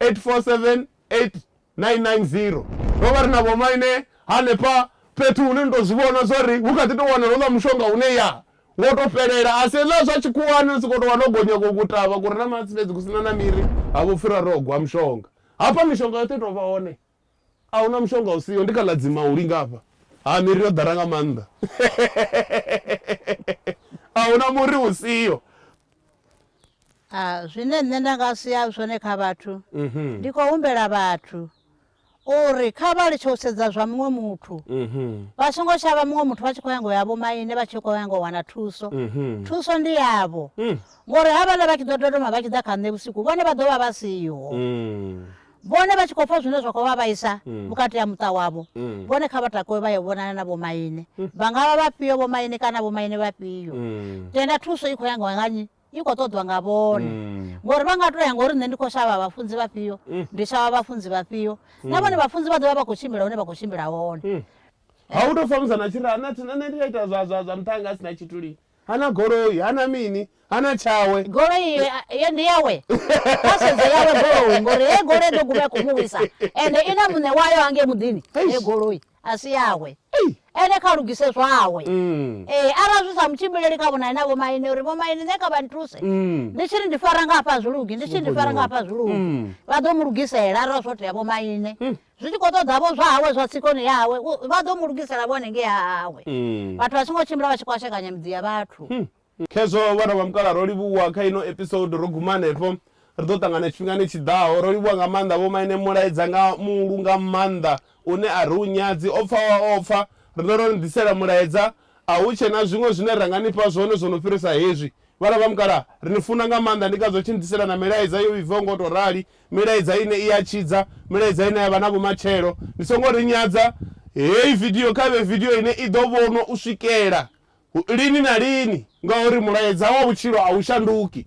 8478990. Ro vha ri na vhomaine hanefha fhethu hune ni tou zwi vhona zwa uri hu kha ḓi tou wanala houḽa mushonga une ya wo tou fhelela, a si hezwiḽa zwa tshikhuwani ni sokou tou wana ho gonya ku kutavha ku re na matsi fhedzi ku si na na miri ha vho pfhi ra ri ho gwa mushonga. Hafha mishonga yoṱhe i tou vha hone. A hu na mushonga u siho. Ndi kha ḽa dzima u linga afha. Ha, miri yo ḓala nga maanḓa. A hu na muri u siho. A, zwine nṋe nda nga sia zwone kha vhathu, ndi khou humbela vhathu uri kha vha litshe u sedza zwa muṅwe muthu. Vha songo shavha muṅwe muthu vha tshi khou nyanga u ya vhomaine vha tshi khou nyanga u wana thuso. Thuso ndi yavho. Ngori havhaḽa vha tshi ḓo dodoma vha tshi ḓa kha nṋe vhusiku, vhone vha ḓo vha vha siho. Vhone vha tshi khou pfa zwine zwa khou vha vhaisa mm. vhukati ha muṱa wavho, mm. vhone kha vha takuwe vha yo vhonana na vhomaine. Mm. Vha nga vha vhafhio vhomaine kana vhomaine vhafhio? Tenda thuso i khou ya nga nnyi? i khou ṱoḓwa nga vhone ngori vha nga to ya ngori nṋe ndi khou shavha vhafunzi vhafhio ndi shavha vhafunzi vhafhio na vhone vhafunzi vha ḓovha vha khou tshimbila hune vha khou tshimbila hone ha u tou famusa na tshira na thina nṋe ndi a ita zwa zwa zwa muṱhanga a sina tshithu lini Ha na goloi, ha na mini, ha na tshawe. Goloi iyo iyo ndi yawe. Kha sedze yawe goloi ngori heyi goloi ḓo guma i khou mu wisa ende i na muṋe wayo hangei muḓini. Heyi goloi a si yawe. Ene kha lugise zwawe. Ee, arali zwi sa mu tshimbileli kha vhonane na vhomaine uri vhomaine nṋe kha vha nthuse. Ndi tshi ri ndi fara nga hafha a zwi lugi, ndi tshi ri ndi fara nga hafha a zwi lugi. Vha ḓo mu lugisela arali zwo tea vhomaine. zwi tshi khou ṱoḓa vho zwa hawe zwa tsikoni yawe u- vha ḓo mu lugisela vho hanengei ha hawe Mm. vhathu vha songo tshimbila vha tshi kwashekanya miḓi ya vhathu khezwo vhana vha mukala ro livhuwa kha ino episode ro guma hanefho ri ḓo ṱangana tshifhingani tshi ḓaho ro livhuwa nga maanḓa vho maine mulaedza nga muulu nga maanḓa une a ri u nyadzi o pfa wa o pfa riṋe ro ni ḓisela mulaedza a hu tshe na zwiṅwe zwine ra nga ni fha zwone zwo no fhirisa hezwi vhana vha mukala ri ni funa nga maanḓa ndi ngazwo tshi ni ḓisela na milaedza yo vhibvaho ngo tou rali Milaedza ine i ya tshidza, milaedza ine ya vha na vhumatshelo. Ni songo ri nyadza. Heyi vidio kha i vhe vidio ine i ḓo vhonwa u swikela lini na lini, ngauri mulaedza wa vhutshilo a u shanduki.